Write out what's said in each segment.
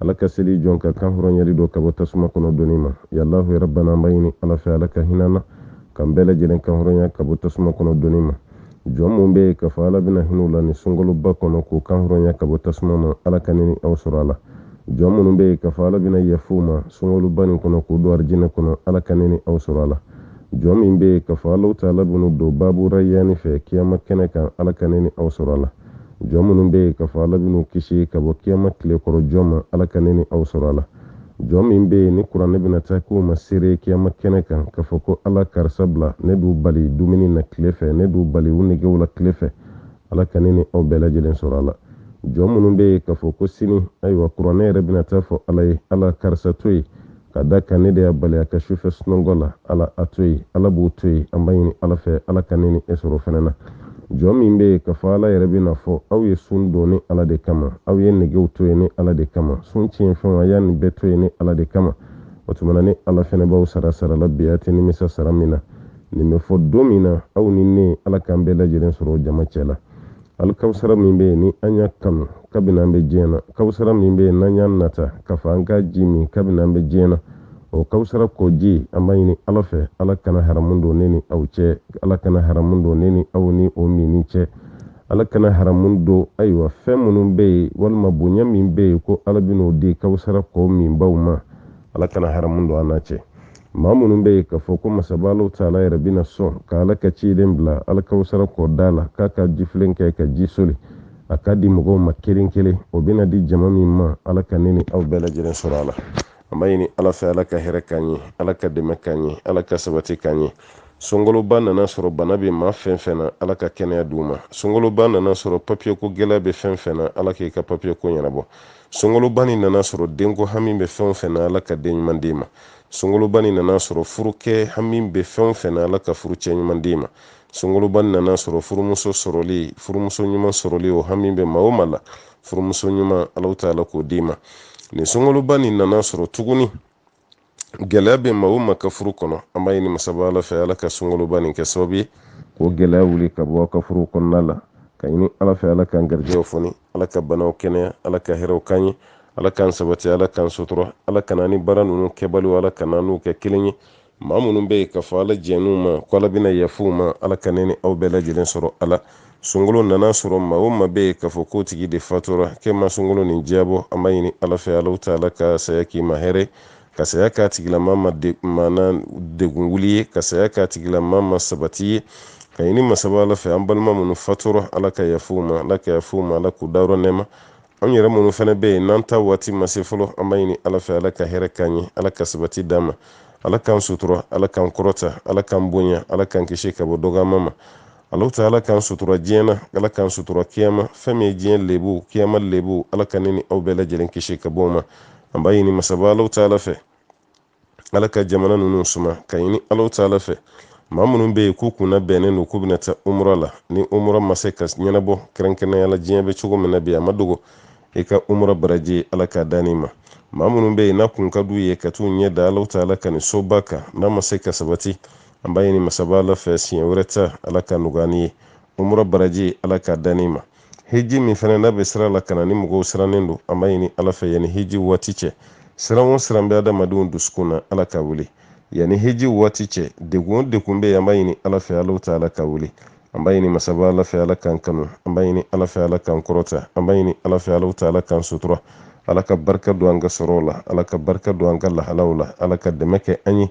ala ka seli jɔn ka kan hɔrɔnyali dɔ ka bɔ tasuma kɔnɔ doni ma ya alahu ya rabbana an b'a ɲini ala fɛ ala ka hinɛ an na k'an bɛɛ lajɛlen kan hɔrɔnya ka bɔ tasuma kɔnɔ doni ma jɔn minnu bɛ yen k'a fɔ ala bɛna hinɛ u la nin sunkaloba kɔnɔ k'u kan hɔrɔnya ka bɔ tasuma ma ala ka ne ni aw sɔrɔ a la jɔn minnu bɛ yen k'a fɔ ala bɛna yafa u ma sunkaloba nin kɔnɔ k'u don arijinɛ kɔnɔ ala ka ne ni aw sɔrɔ a la jɔn min bɛ yen k'a fɔ alahu taala bɛn'u don babu rayani fɛ kiyama kɛnɛ kan ala ka ne ni aw sɔrɔ a la jɔn minnu bɛ yen k'a fɔ ala bɛn'u kisi ka bɔ kiyama tile kɔrɔ jɔ ma ala ka ne ni aw sɔrɔ a la jɔn min bɛ yen ni kuranɛ bɛna taa k'u ma seere kiyama kɛnɛ kan k'a fɔ ko ala karisa bila ne d'u bali dumuni na tile fɛ ne d'u bali u negew la tile fɛ ala ka ne ni aw bɛɛ lajɛlen sɔrɔ a la jɔn minnu bɛ yen k'a fɔ ko sini ayiwa kuranɛ yɛrɛ bɛna taa a fɔ ala ye ala karisa to yen k'a d'a kan ne de y'a bali a ka sufɛ sunɔgɔ la ala a to yen ala b'o to yen an b'a ɲini ala fɛ ala ka ne ni e sɔrɔ fɛnɛ na jɔn min bɛ yen k'a fɔ ala yɛrɛ bɛn'a fɔ aw ye sun don ne ala de kama aw ye negew to yen ne ala de kama sun tiɲɛ fɛnw a y'a nin bɛɛ to yen ne ala de kama o tuma na ne ala fɛnɛ b'aw sara sara la bi a tɛ nimisa sara min na nin bɛ fɔ don min na aw ni ne ala k'an bɛɛ lajɛlen sɔrɔ jama cɛ la alikawusara min bɛ yen ni an y'a kanu kabini an bɛ diɲɛ na kawusara min bɛ yen n'an y'a nata k'a fɔ an ka ji min kabini an bɛ diɲɛ na o kawusara kɔji an b'a ɲini ala fɛ ala kana haramu don ne ni aw cɛ ala kana haramu don ne ni aw ni o minni cɛ ala kana haramu don ayiwa fɛn minnu bɛ yen walima bonya min bɛ yen ko ala bɛn'o di kawusara kɔ minbaw ma ala kana haramu don an n'a cɛ maa minnu bɛ yen k'a fɔ ko masaba alahu taala yɛrɛ bɛna sɔn ka ala ka ciden bila alikawusara kɔda la k'a ka jifilen kɛ ka ji soli a k'a di mɔgɔw ma kelen kelen o bɛna di jama min ma ala ka ne ni aw bɛɛ lajɛlen sɔrɔ a la an b'a ɲini ala fɛ ala ka hɛrɛ k'an ye ala ka dɛmɛ k'an ye ala ka sabati k'an ye sunkaloba nana a sɔrɔ bana bɛ maa fɛn fɛn na ala ka kɛnɛya d'u ma sunkaloba nana a sɔrɔ papiyeko gɛlɛya bɛ fɛn fɛn na ala k'i ka papiyeko ɲɛnabɔ sunkaloba nin nana a sɔrɔ denko hami bɛ fɛn o fɛn na ala ka den ɲuman d'i ma sunkaloba nin nana a sɔrɔ furukɛ hami bɛ fɛn o fɛn na ala ka furucɛ ɲuman d'i ma sunkaloba nin nana a sɔrɔ furumuso sɔrɔli furumuso ɲuman sɔrɔli o hami bɛ maa o maa la furumuso ɲuman ala taala k'o d'i ma nin sunkaloba nin nana a sɔrɔ tuguni gɛlɛya bɛ maa o maa ka furu kɔnɔ an b'a ɲini masaba ala fɛ ala ka sunkaloba nin kɛ sababu ye k'o gɛlɛya wuli ka bɔ a ka furu kɔnɔna la k'a ɲini ala fɛ ala k'an garijɛw foni ala ka banaw kɛnɛya ala ka hɛrɛw k'an ye ala k'an sabati ala k'an sutura ala kana an ni baara ninnu kɛbaliw ala kana an n'u kɛ kelen ye maa minnu bɛ yen k'a fɔ ala jɛn'u ma ko ala bɛna yafa u ma ala ka ne ni aw bɛɛ lajɛlen sɔrɔ a la sunkalo nana a sɔrɔ maa o maa bɛ yen k'a fɔ ko o tigi de fatura k'e ma sunkalo nin diyabɔ an b'a ɲini ala fɛ alahu taala ka saya k'i ma hɛrɛ ka saya k'a tigilama ma maana degun wuli ye ka saya k'a tigilama ma sabati ye k'a ɲini masaba ala fɛ an balima minnu fatura ala ka yafa u ma ala ka yafa u ma ala k'u dayɔrɔ nɛɛma an yɛrɛ minnu fana bɛ yen n'an ta waati ma se fɔlɔ an b'a ɲini ala fɛ ala ka hɛrɛ k'an ye ala ka sabati d'an ma ala k'an sutura ala k'an kɔrɔta ala k'an bonya ala k'an kisi ka bɔ dɔgɔya ma ala taala k'an sutura diɲɛ na ala k'an sutura kiyama fɛn min ye diɲɛ lebu kiyama lebu ala ka ne ni aw bɛɛ lajɛlen kisi ka bɔ o ma an b'a ɲini masaba ala taala fɛ ala ka jamana ninnu suma k'a ɲini ala taala fɛ maa minnu bɛ yen k'u kun nabɛnnen don k'u bɛna taa umura la ni umura ma se ka ɲɛnabɔ kɛrɛnkɛrɛnnenya la diɲɛ bɛ cogo min na bi a ma dogo nka umura baraji ala k'a d'an ma maa minnu bɛ yen n'a kun ka d'u ye ka t'u ɲɛ da ala taala ka nin soba kan n'a ma se ka sabati an b'a ɲini masaba ala fɛ siɲɛ wɛrɛ ta ala k'a nɔgɔya ye umura baraji ala k'a d'an ma hiji min fana n'a bɛ sira la ka na ni mɔgɔw sirannen don an b'a ɲini ala fɛ yanni hiji waati cɛ siran o siran bɛ adamadenw dusukun na ala k'a wuli yanni hiji waati cɛ degun o degun bɛ yen an b'a ɲini ala fɛ ala taala k'a wuli an b'a ɲini masaba ala fɛ ala k'an kanu an b'a ɲini ala fɛ ala k'an kɔrɔta an b'a ɲini ala fɛ ala taala k'an sutura ala ka barika don an ka sɔrɔw la ala ka barika don an ka lahalaw la ala ka dɛmɛ kɛ an ye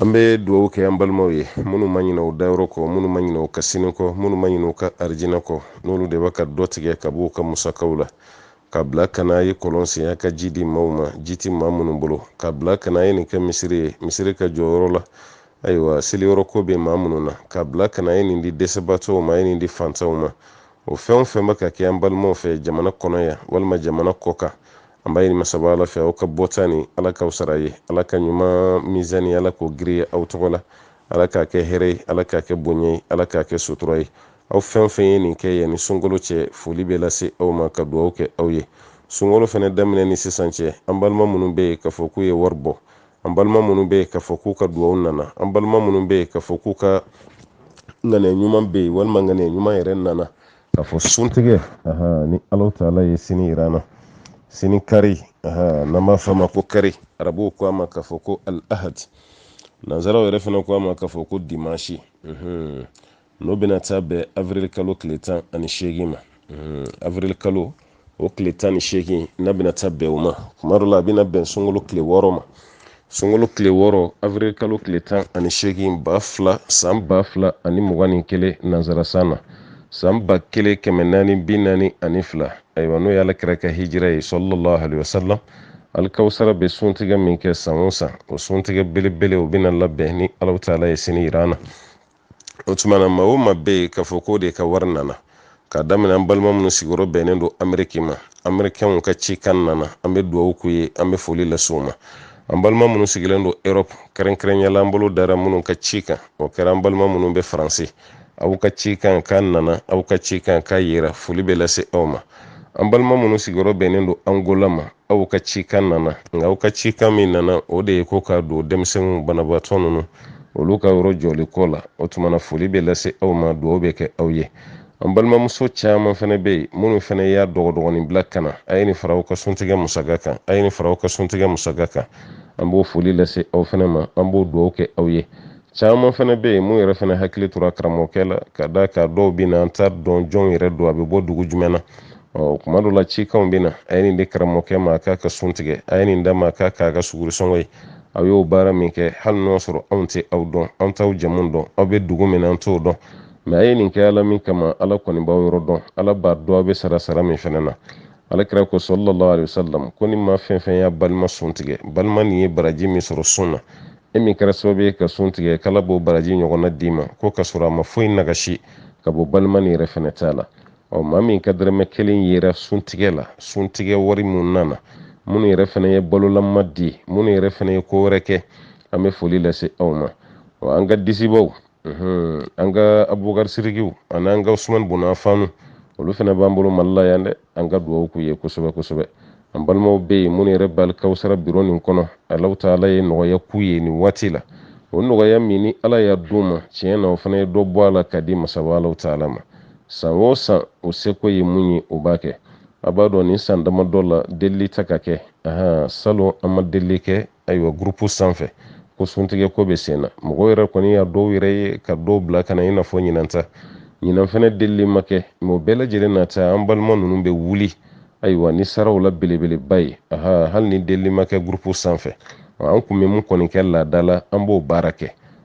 an bɛ dugawu kɛ an balimaw ye minnu ma ɲinɛ u dayɔrɔ kɔ minnu ma ɲinɛ u ka sini kɔ minnu ma ɲinɛ u ka arijinɛ kɔ n'olu de bɛ ka dɔ tigɛ ka b'u ka musakaw la k'a bila ka n'a ye kɔlɔn sen a ka ji di maaw ma ji tɛ maa minnu bolo k'a bila ka n'a ye nin kɛ misiri ye misiri ka jɔ yɔrɔ la ayiwa seliyɔrɔ ko bɛ maa minnu na k'a bila ka n'a ye nin di dɛsɛbaatɔw ma a ye nin di fantanw ma o fɛn o fɛn bɛ ka kɛ an balimaw fɛ jamana kɔnɔ yan walima jamana kɔkan an b'a ɲini masaba ala fɛ aw ka bɔta nin ala k'aw sara ye ala ka ɲuman mizani ala k'o giriya aw tɔgɔ la ala k'a kɛ hɛrɛ ye ala k'a kɛ bonya ye ala k'a kɛ sutura ye aw fɛn o fɛn ye nin kɛ yanni sunkalo cɛ foli bɛ lase aw ma ka dugawu kɛ aw ye sunkalo fana daminɛ ni sisan cɛ an balima minnu bɛ yen k'a fɔ k'u ye wari bɔ an balima minnu bɛ yen k'a fɔ k'u ka dugawu nana an balima minnu bɛ yen k'a fɔ k'u ka ŋaniya ɲuman bɛ yen walima ŋaniya ɲuman yɛrɛ nana k'a fɔ suntigɛ ni alahu taala ye sini yira an na sini kari n'an b'a fɔ a ma ko kari arabuw ko a ma k'a fɔ ko al ahad nanzaraw yɛrɛ fana ko a ma k'a fɔ ko dimanche n'o bɛna taa bɛn avril kalo tile tan ani seegin ma avril kalo o tile tan ni seegin n'a bɛna taa bɛn o ma kuma dɔ la a bɛna bɛn sunkalo tile wɔɔrɔ ma sunkalo tile wɔɔrɔ avril kalo tile tan ani seegin ba fila san ba fila ani mugan ni kelen nansarasan na san ba kelen kɛmɛ naani bi naani ani fila ayiwa n'o ye alakira ka hijira ye salalahu alayhi wa salam alikawusara bɛ suntigɛ min kɛ san o san o suntigɛ belebele o bɛna labɛn ni alahu taala ye sini yira an na o tuma na maa o maa bɛ yen k'a fɔ k'o de ka wari nana k'a daminɛ an balima minnu sigiyɔrɔ bɛnnen don ameriki ma amerikɛnw ka cikan nana an bɛ dugawu k'u ye an bɛ foli lase u ma an balima minnu sigilen don europe kɛrɛnkɛrɛnya la an bolo dara minnu ka cikan o kɛra an balima minnu bɛ faransi aw ka cikan k'a nana aw ka cikan k'a yera foli bɛ lase aw ma an balima minnu sigiyɔrɔ bɛnnen don angola ma aw ka cikan nana nka aw ka cikan min nana o de ye ko k'a don denmisɛnninw banabaatɔ ninnu olu ka yɔrɔ jɔli ko la o tuma na foli bɛ lase aw ma dugaw bɛ kɛ aw ye an balimamuso caman fana bɛ yen minnu fana y'a dɔgɔdɔgɔnin bila ka na a ye nin fara aw ka suntigɛ musaka kan a ye nin fara aw ka suntigɛ musaka kan an b'o foli lase aw fana ma an b'o dugaw kɛ aw ye caman fana bɛ yen mun yɛrɛ fana hakili tora karamɔgɔkɛ la ka d'a kan dɔw bɛ na an t'a dɔn jɔn yɛrɛ don a bɛ bɔ dugu jumɛn na ɔ kuma dɔ la cikanw bɛ na a ye nin di karamɔgɔkɛ ma a k'a ka sun tigɛ a ye nin d'a ma k'a k'a ka sugurisɔngɔ ye aw y'o baara min kɛ hali n'o sɔrɔ anw tɛ aw dɔn an t'aw jamu dɔn aw bɛ dugu min na an t'o dɔn mɛ a ye nin kɛ ala min kama ala kɔni b'aw yɔrɔ dɔn ala b'a dɔn aw bɛ sara sara min fana na ala kira ko sallallahu alayhi wasalam ko ni maa fɛn fɛn y'a balima sun tigɛ balima nin ye baraji min sɔrɔ sun na e min kɛra sababu ye k'a sun tigɛ k'ala b'o baraji ɲɔgɔnna d'i ma ko ka sɔrɔ a ma foyi nagasi ka bɔ balima nin yɛrɛ fɛnɛ ta la ɔ maa min ka dɛrɛmɛ kelen yera suntigɛ la suntigɛ wari mun nana minnu yɛrɛ fana ye balolama di minnu yɛrɛ fana ye ko wɛrɛ kɛ an bɛ foli lase aw ma ɔ an ka disibaw an ka abubakari sirikiw ani an ka usumani bun afanu olu fana b'an bolo mali la yan dɛ an ka dugawu k'u ye kosɛbɛ kosɛbɛ an balimaw bɛ yen minnu yɛrɛ b'alikawusara biro nin kɔnɔ allahu taala ye nɔgɔya k'u ye nin waati la o nɔgɔya min ni ala y'a d'u ma tiɲɛ na u fana ye dɔ bɔ a la ka di masaba allahu taala ma san o san u seko ye mun ye o b'a kɛ a b'a dɔn nin san damadɔ la delili tɛ ka kɛ ahan salon an ma delili kɛ ayiwa gurupu sanfɛ ko suntigɛ ko bɛ sen na mɔgɔw yɛrɛ kɔni y'a dɔw yɛrɛ ye ka dɔw bila ka na i n'a fɔ ɲinan ta ɲinan fana delili ma kɛ mɛ o bɛɛ lajɛlen n'a ta an balima ninnu bɛ wuli ayiwa ni saraw la belebeleba ye aha hali ni delili ma kɛ gurupu sanfɛ an kun bɛ mun kɔni kɛ laada la an b'o baara kɛ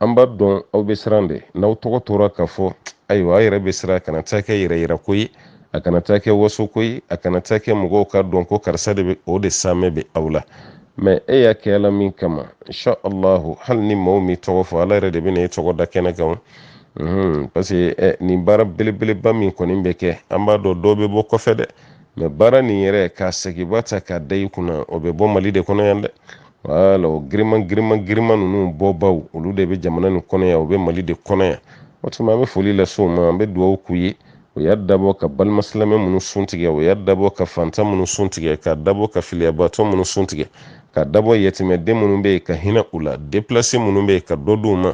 an b'a dɔn aw bɛ siran de n'aw tɔgɔ tora ka fɔ ayiwa aw yɛrɛ bɛ siran a kana taa kɛ yɛrɛ yira ko ye a kana taa kɛ waso ko ye a kana taa kɛ mɔgɔw k'a dɔn ko karisa de bɛ o de saamɛ bɛ aw la mɛ e y'a kɛ ala min kama insha allahu hali ni maaw m'i tɔgɔ fɔ ala yɛrɛ de bɛna e tɔgɔ da kɛnɛ kan mhm, parce que eh, nin baara belebeleba min kɔni bɛ kɛ an b'a dɔn dɔw bɛ bɔ kɔfɛ dɛ mɛ baara nin yɛrɛ k'a sɛgɛnba ta k'a da i kunna o bɛ bɔ mali de kɔnɔ yan dɛ wala o giriman giriman giriman ninnu bɔbaw olu de bɛ jamana nin kɔnɔ yan u bɛ mali de kɔnɔ yan o tuma an bɛ foli lase u ma an bɛ dugawu k'u ye o y'a dabɔ ka balima silamɛ minnu sun tigɛ o y'a dabɔ ka fantan minnu sun tigɛ k'a dabɔ ka filiyabaatɔ minnu sun tigɛ k'a dabɔ yatimɛden minnu bɛ yen ka hinɛ u la deplase minnu bɛ yen ka dɔ d'u ma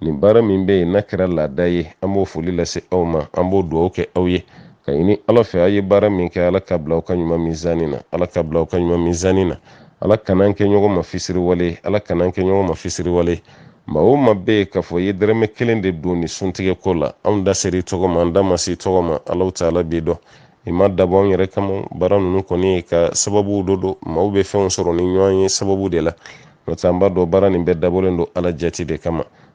nin baara min bɛ yen n'a kɛra laada ye an b'o foli lase aw ma an b'o dugawu kɛ aw ye ka ɲini ala fɛ aw ye baara min kɛ ala k'a bila aw ka ɲuman mizani na ala k'a bila aw ka ɲuman mizani na ala kan'an kɛ ɲɔgɔn ma fisiriwale ala kan'an kɛ ɲɔgɔn ma fisiriwale maa o maa bɛ yen k'a fɔ i ye dɛrɛmɛ kelen de don ni suntigɛ ko la anw da ser'i tɔgɔ ma an da ma s'i tɔgɔ ma alahu taala b'i dɔn i m'a dabɔ anw yɛrɛ kama baara ninnu kɔni ye ka sababu dɔ don maaw bɛ fɛnw sɔrɔ ni ɲɔgɔn ye sababu de la n'o tɛ an b'a dɔn baara nin bɛɛ dabɔlen don ala jati de kama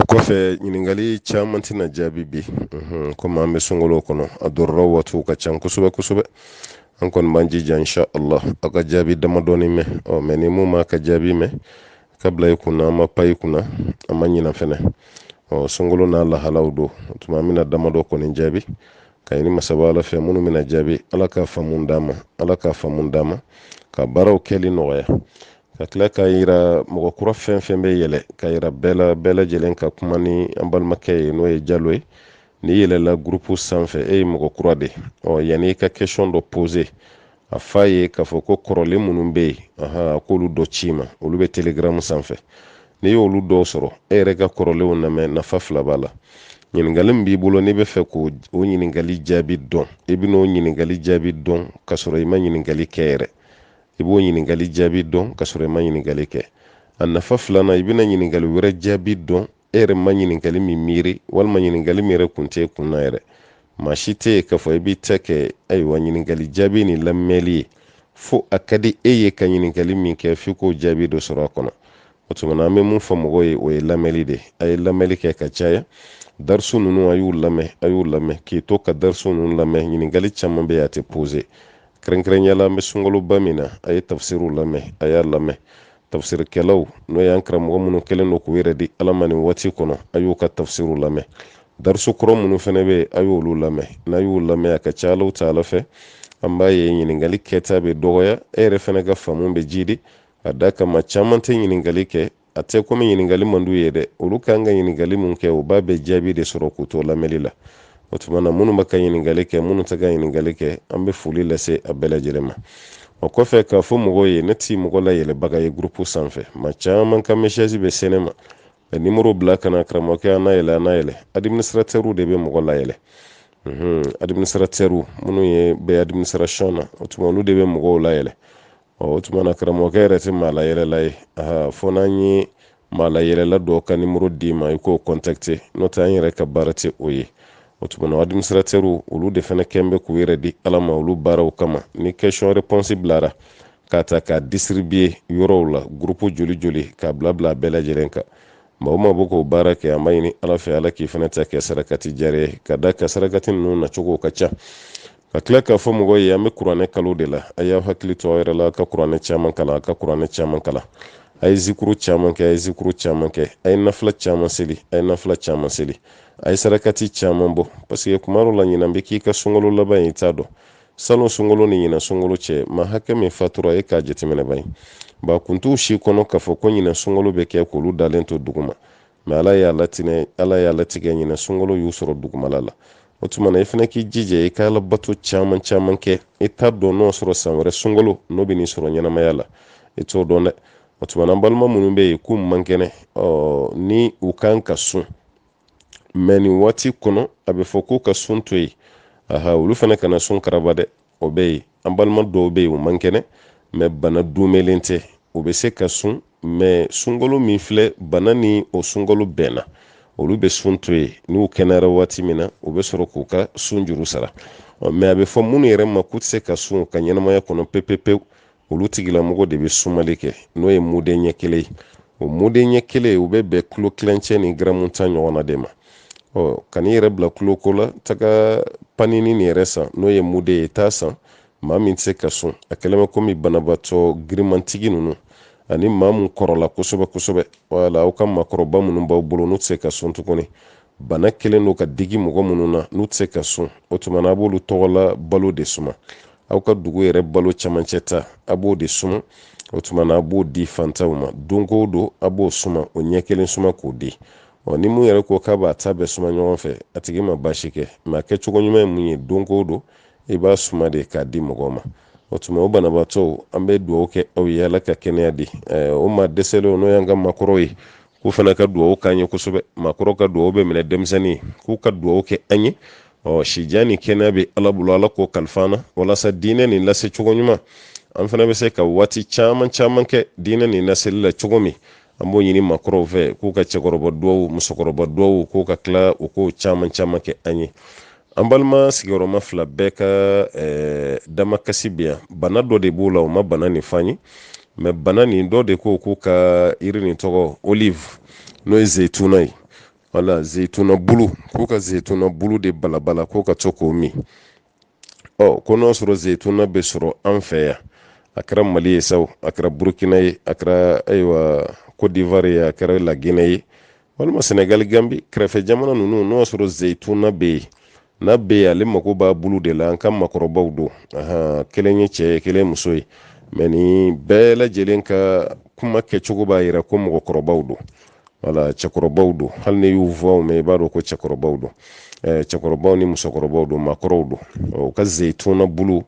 o kɔfɛ ɲininkali caman tɛna jaabi bi komi an bɛ sunkalo kɔnɔ a dɔrɔrɔ waatiw ka ca kosɛbɛ kosɛbɛ an kɔni b'an jija insha Allah aw ka jaabi damadɔni mɛn ɔ mɛ ni min m'a ka jaabi mɛn k'a bila i kunna an ma pan i kunna an ma ɲina fɛnɛ ɔ sunkalo n'a lahalaw don o tuma an bɛna damadɔ kɔni jaabi ka ɲini masaba ala fɛ minnu bɛna jaabi ala ka faamu d'an ma ala ka faamu d'an ma ka baaraw kɛli nɔgɔya ka tila k'a yira mɔgɔ kura fɛn fɛn bɛ yɛlɛ k'a yira bɛɛ la bɛɛ lajɛlen ka kuma ni an balimakɛ ye n'o ye jalo ye n'i yɛlɛla gurupu sanfɛ e ye mɔgɔ kura de ɔ yanni i ka kɛsɔn dɔ pose a f'a ye k'a fɔ ko kɔrɔlen minnu bɛ yen a k'olu dɔ c'i ma olu bɛ telegaramu sanfɛ n'i y'olu dɔw sɔrɔ e yɛrɛ ka kɔrɔlenw lamɛn nafa fila b'a la ɲininkali min b'i bolo n'i b'a fɛ k'o o ɲininkali jaabi dɔn i bɛn'o ɲininkali jaabi dɔn k'a sɔrɔ i ma ɲininkali kɛ yɛrɛ i b'o ɲininkali jaabi dɔn ka sɔrɔ i ma ɲininkali kɛ a nafa filanan i bɛna ɲininkali wɛrɛ jaabi dɔn e yɛrɛ ma ɲininkali min miiri walima ɲininkali min yɛrɛ kun t'i kun na yɛrɛ maa si tɛ yen k'a fɔ i b'i ta kɛ ayiwa ɲininkali jaabi ni lamɛnli ye fo a ka di e ye ka ɲininkali min kɛ f'i k'o jaabi dɔ sɔrɔ a kɔnɔ o tuma na an bɛ mun fɔ mɔgɔw ye o ye lamɛnli de ye a ye lamɛnli kɛ ka caya darisu ninnu a y'u lamɛn a y'u lamɛn k'i to ka darisu ninnu lamɛn ɲininkali caman bɛ yen a tɛ pose kɛrɛnkɛrɛnya la an bɛ sunkaloba min na a ye tafsiriw lamɛn a y'a lamɛn tafsirikɛlaw n'o y'an karamɔgɔ minnu kɛlen don k'u yɛrɛ di ala ma nin waati kɔnɔ a y'u ka tafsiriw lamɛn darisu kɔrɔ minnu fɛnɛ bɛ yen a y'olu lamɛn n'a y'u lamɛn a ka ca alahu taala fɛ an b'a ye ɲininkali kɛta bɛ dɔgɔya e yɛrɛ fɛnɛ ka faamu bɛ jidi a da kama caman tɛ ɲininkali kɛ a tɛ komi ɲininkali man d'u ye dɛ olu kan ka ɲininkali mun kɛ u b'a bɛɛ jaabi de sɔrɔ k'u to lamɛnli la o tuma na minnu bɛ ka ɲininkali kɛ minnu tɛ ka ɲininkali kɛ an bɛ foli lase a bɛɛ lajɛlen ma o kɔfɛ k'a fɔ mɔgɔw ye ne ti mɔgɔ layɛlɛbaga ye gurupu sanfɛ maa caman ka mesazi bɛ se ne ma ka nimoro bila ka na karamɔgɔkɛ an nayɛlɛ an nayɛlɛ adiminisiratɛriw de bɛ mɔgɔ layɛlɛ adiminisiratɛriw minnu ye bɛ administration na o tuma olu de bɛ mɔgɔw layɛlɛ ɔ o tuma na karamɔgɔkɛ yɛrɛ tɛ maa layɛlɛla ye fo n'an ye maa layɛlɛla dɔ ka nimoro d'i ma i k'o kɔntakite n'o tɛ an yɛrɛ ka baara tɛ o ye o tuma na adiminisitiratɛriw olu de fana kɛn bɛ k'u yɛrɛ di ala ma olu baaraw kama ni kɛsiyɔn repɔnsi bilara k'a ta k'a disiribiye yɔrɔw la gurupu joli joli k'a bila bila a bɛɛ lajɛlen kan maa o maa bɛ k'o baara kɛ an b'a ɲini ala fɛ ala k'i fana ta kɛ sarakati jariya ye ka d'a kan sarakati ninnu nacogo ka ca ka tila k'a fɔ mɔgɔw ye an bɛ kuranɛ kalo de la a y'aw hakili to aw yɛrɛ la a ka kuranɛ caman kalan a ka kuranɛ caman kalan a ye zikuru caman kɛ a ye zikuru caman kɛ a ye nafila caman seli a ye nafila caman seli a ye sarakati caman bɔ paseke kuma dɔ la ɲinan bɛ k'i ka sunkalo laban ye i t'a dɔn salon sunkalo ni ɲinan sunkalo cɛ maa hakɛ min fatura e k'a jateminɛ ban ba kun t'u si kɔnɔ k'a fɔ ko ɲinan sunkalo bɛ kɛ k'olu dalen to duguma mɛ ala y'a latigɛ ɲinan sunkalo y'u sɔrɔ dugumala la o tuma na i fana k'i jija i ka ala bato caman caman kɛ i t'a dɔn n'o sɔrɔ san wɛrɛ sunkalo n'o bɛ n'i sɔrɔ ɲɛnamaya la i t'o dɔn dɛ o tuma na an balima minnu bɛ yen k'u man kɛnɛ ni u kan ka sun mɛ nin waati kɔnɔ a bɛ fɔ k'u ka sun to yen aha olu fana kana sun karaba dɛ o bɛ yen an balima dɔw bɛ yen u man kɛnɛ mɛ bana dunmɛlen tɛ u bɛ se ka sun mɛ sunkalo min filɛ bana ni o sunkalo bɛnna olu bɛ sun to yen n'u kɛnɛyara waati min na u bɛ sɔrɔ k'u ka sun juru sara mɛ a bɛ fɔ minnu yɛrɛ ma k'u tɛ se ka sun ka ɲɛnamaya kɔnɔ pepepewu olu tigilamɔgɔ de bɛ sumali kɛ n'o ye muden ɲɛ kelen ye o muden ɲɛ kelen u bɛ bɛn kulo tilancɛ ni garamu tan ɲɔgɔn na de ma ɔ kan'i yɛrɛ bila kulo ko la taga panini nin yɛrɛ san n'o ye muden ye taa san maa min tɛ se ka sun a kɛlen bɛ komi banabaatɔ girimantigi ninnu ani maa min kɔrɔla kosɛbɛ kosɛbɛ wala aw ka maakɔrɔba minnu b'aw bolo n'u tɛ se ka sun tuguni bana kɛlen don ka digi mɔgɔ minnu na n'u tɛ se ka sun o tuma na a b'olu tɔgɔ la balo de suma aw ka dugu yɛrɛ balo camancɛ ta a b'o de suma o tuma na a b'o di fantanw ma don o don a b'o suma o ɲɛ kelen suma k'o di ɔ ni min yɛrɛ ko k'a b'a ta bɛɛ suma ɲɔgɔn fɛ a tigi ma baasi kɛ mɛ a kɛcogo ɲuman ye mun ye don o don i b'a suma de k'a di mɔgɔw ma o tuma o banabaatɔw an bɛ dugawu kɛ aw ye ala ka kɛnɛya di aw ma dɛsɛlenw n'o y'an ka maakɔrɔw ye k'u fana ka dugawu k'an ye kosɛbɛ maakɔrɔw ka dugawu bɛ minɛ denmisɛnnin ye k'u ka dugawu kɛ an ye ɔ sijan ni kɛnɛya bɛ ala bolo ala k'o kalifa an na walasa diinɛ nin lase cogo ɲuman an fana bɛ se ka waati caman caman kɛ diinɛ nin laseli la cogo min an b'o ɲini maakɔrɔw fɛ k'u ka cɛkɔrɔba duwawu musokɔrɔba duwawu k'u ka tila u k'o caman caman kɛ an ye an balima sigiyɔrɔma fila bɛɛ ka eh, damakasi bɛ yan bana dɔ de b'u la u ma bana nin fan ye mɛ bana nin dɔ de ko k'u ka yiri nin tɔgɔ olive n'o ye zeyituna ye wala zeyituna bulu k'u ka zeyituna bulu de balabala k'u ka to k'o min ɔ ko n'o sɔrɔ zeyituna bɛ sɔrɔ an fɛ yan a kɛra mali ye sa o a kɛra burukina ye a kɛra ayiwa kodivari ye a kɛra lagine ye walima sɛnɛgali gambi kɛrɛfɛ jamana ninnu n'o sɔrɔ zeyituna bɛ yen n'a bɛ yen ale mako b'a bulu de la an ka makɔrɔbaw don kelen ye cɛ ye kelen muso ye mɛ ni bɛɛ lajɛlen ka kuma kɛcogo b'a yira ko mɔgɔkɔrɔbaw don wala cɛkɔrɔbaw don hali ni y'u fɔ mɛn i b'a dɔn ko cɛkɔrɔbaw don cɛkɔrɔbaw ni musokɔrɔbaw don makɔrɔw don u ka zeyituna bulu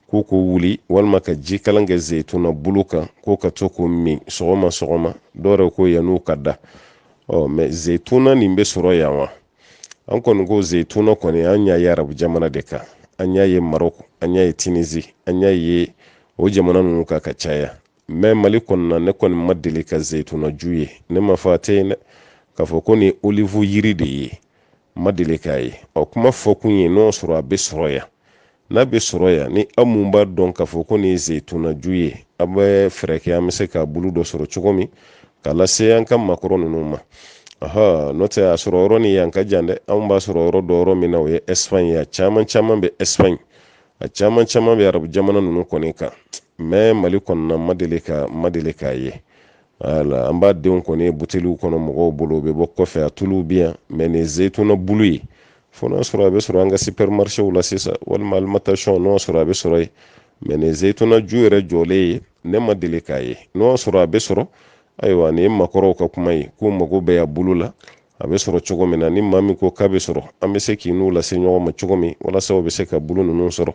k'u k'o wuli walima ka ji kalan kɛ zeyituna bulu kan k'u ka to k'o min sɔgɔma sɔgɔma dɔw yɛrɛ ko yann'u ka da ɔ mɛ zeyituna nin bɛ sɔrɔ yan wa an kɔni ko zeyituna kɔni an y'a ye arabu jamana de kan an y'a ye marɔku an y'a ye tinizi an y'a ye o jamana ninnu kan ka caya mɛ mali kɔnɔna ne kɔni ma deli ka zeyitunaju ye ne m'a f'a tɛ yen dɛ k'a fɔ ko nin olive yiri de ye ma deli k'a ye ɔ kuma fɔkun ye n'o sɔrɔ a bɛ sɔrɔ yan n'a bɛ sɔrɔ yan ni aw mun b'a dɔn k'a fɔ ko nin ye zeyitunaju ye a bɛ fɛɛrɛ kɛ an bɛ se k'a bulu dɔ sɔrɔ cogo min k'a lase an ka makɔrɔ ninnu ma aha n'o tɛ a sɔrɔ yɔrɔ ni yan ka jan dɛ anw b'a sɔrɔ yɔrɔ dɔn yɔrɔ min na o ye espagne ye a caman caman bɛ espagne a caman caman bɛ arabu jamana ninnu kɔni kan mɛ mali kɔnɔna ma deli ka ma deli k'a ye wala an b'a denw kɔni ye buteliw kɔnɔ mɔgɔw bolo u bɛ bɔ kɔfɛ a tuluw bɛ yan mɛ nin zeyituna bulu ye fo n'a sɔrɔ a bɛ sɔrɔ an ka sipɛrimarisɛw la sisan walima alimantasiyɔn n'o sɔrɔ a bɛ sɔrɔ yen mɛ nin zeyituna ju yɛrɛ jɔlen ye ne ma deli k'a ye n'o sɔrɔ a bɛ sɔrɔ ayiwa nin ye makɔrɔw ka kuma ye k'u mago bɛ a bulu la a bɛ sɔrɔ cogo min na ni maa min ko k'a bɛ sɔrɔ an bɛ se k'i n'u lase ɲɔgɔn ma cogo min walasa u bɛ se ka bulu ninnu sɔrɔ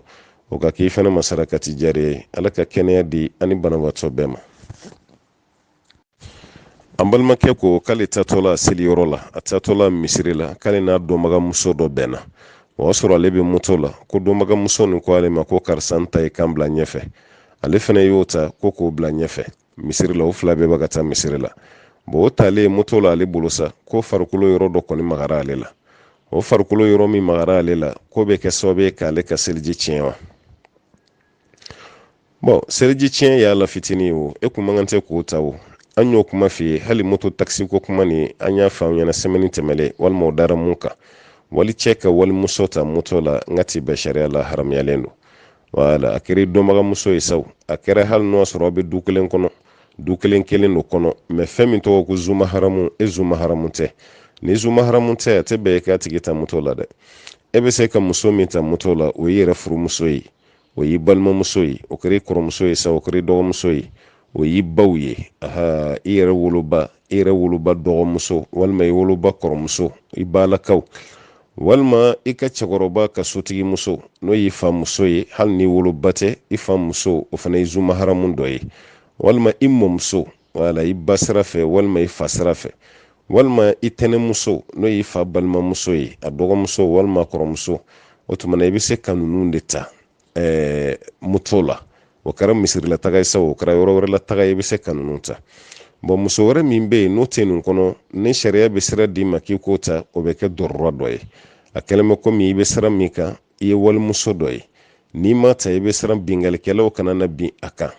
o ka k'i fana ma sarakati jariya ye ala ka kɛnɛya di an ni banabaatɔ bɛɛ ma an balimakɛ ko k'ale taatɔla seliyɔrɔ la a taatɔla misiri la k'ale n'a dɔnbaga muso dɔ bɛnna o y'a sɔrɔ ale bɛ moto la ko dɔnbaga muso nin ko ale ma ko karisa n ta i ka n bila ɲɛfɛ ale fana y'o ta ko k'o bila ɲɛfɛ misiri la o fila bɛɛ bɛ ka taa misiri la bon o talen moto la ale bolo sa k'o farikolo yɔrɔ dɔ kɔni magara ale la o farikolo yɔrɔ min magara ale la k'o bɛ kɛ sababu ye k'ale ka seliji tiɲɛ wa bon seliji tiɲɛ y'a la fitinin o e kun man kan tɛ k'o ta o an y'o kuma f'i ye hali moto takisi ko kuma nin an y'a fɔ n ɲɛna sɛmɛni tɛmɛlen walima o dara mun kan walicɛ ka walimuso ta moto la n k'a ti bɛn sariya la haramuyalen don wala a kɛra i dɔnbagamuso ye sa a kɛra hali n'o sɔrɔ aw bɛ du kelen kɔnɔ du kelen kelen don kɔnɔ mɛ fɛn min tɔgɔ ko zu maharamu e zu maharamu tɛ n'i zu maharamu tɛ a tɛ bɛn e k'a tigi ta moto la dɛ e bɛ se ka muso min ta moto la o y'i yɛrɛ furumuso ye o y'i balimamuso ye o kɛra i kɔrɔmuso ye sa o kɛra i dɔgɔmuso ye o y'i baw ye ahan i yɛrɛ woloba i yɛrɛ woloba dɔgɔmuso walima i woloba kɔrɔmuso i balakaw walima i ka cɛkɔrɔba ka sotigi muso n'o y'i fa muso ye hali n'i woloba tɛ i fa muso o fana ye zumaharamu dɔ ye walima i mɔmuso wala i ba sira fɛ walima i fa sira fɛ walima i tɛnɛmuso n'o y'i fa balimamuso ye a dɔgɔmuso walima kɔrɔmuso o tuma na i bɛ se ka ninnu de ta eh, moto la o kɛra misiri la taga ye sa o kɛra yɔrɔ wɛrɛ la taga ye i bɛ se ka ninnu ta bɔn muso wɛrɛ min bɛ yen n'o tɛ nin kɔnɔ ni sariya bɛ sira d'i ma k'i k'o ta o bɛ kɛ dɔrɔra dɔ ye a kɛlen bɛ komi i bɛ sira min kan i ye walimuso dɔ ye n'i m'a ta i bɛ siran binkalikɛlaw kana na bin a kan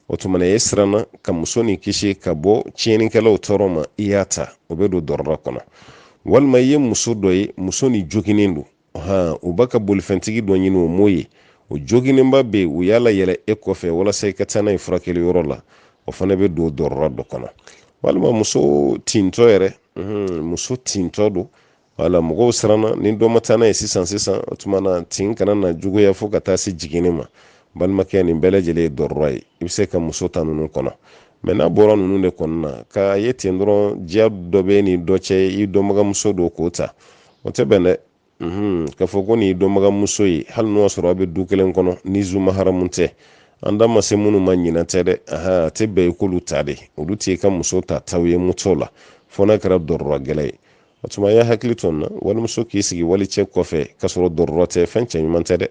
o tuma na e siranna ka muso nin kisi ka bɔ tiɲɛnikɛlaw tɔɔrɔ ma i y'a ta o bɛ don dɔrɔra kɔnɔ walima i ye muso dɔ ye muso nin joginnen don han u b'a ka bolifɛntigi dɔ ɲini o m'o ye o joginnenba bɛ yen u y'a layɛlɛ e kɔfɛ walasa i ka taa n'a ye furakɛli yɔrɔ la o fana bɛ don dɔrɔra dɔ kɔnɔ walima muso tintɔ yɛrɛ muso tintɔ don wala mɔgɔw siranna ni dɔ ma taa n'a ye sisan sisan o tuma na tin kana na juguya fo ka taa se jiginni ma balimakɛ nin bɛɛ lajɛlen ye dɔrɔra ye i bɛ se ka muso ta ninnu kɔnɔ mɛ n'a bɔra ninnu de kɔnɔna na k'a ye ten dɔrɔn diya dɔ b'e ni dɔ cɛ i dɔnbagamuso don k'o ta o tɛ bɛn dɛ mhm. k'a fɔ ko nin ye dɔnbagamuso ye hali n'o y'a sɔrɔ aw bɛ du kelen kɔnɔ n'i zumaharamu tɛ an da ma se minnu ma ɲinɛ tɛ dɛ a tɛ bɛn i k'olu ta dɛ olu t'i ka muso ta taw ye moto la fo n'a kɛra dɔrɔra gɛlɛn ye o tuma a y'aw hakili to nin na walimuso k'i sigi walicɛ kɔfɛ k'a sɔrɔ dɔrɔra tɛ fɛn cɛ ɲuman tɛ dɛ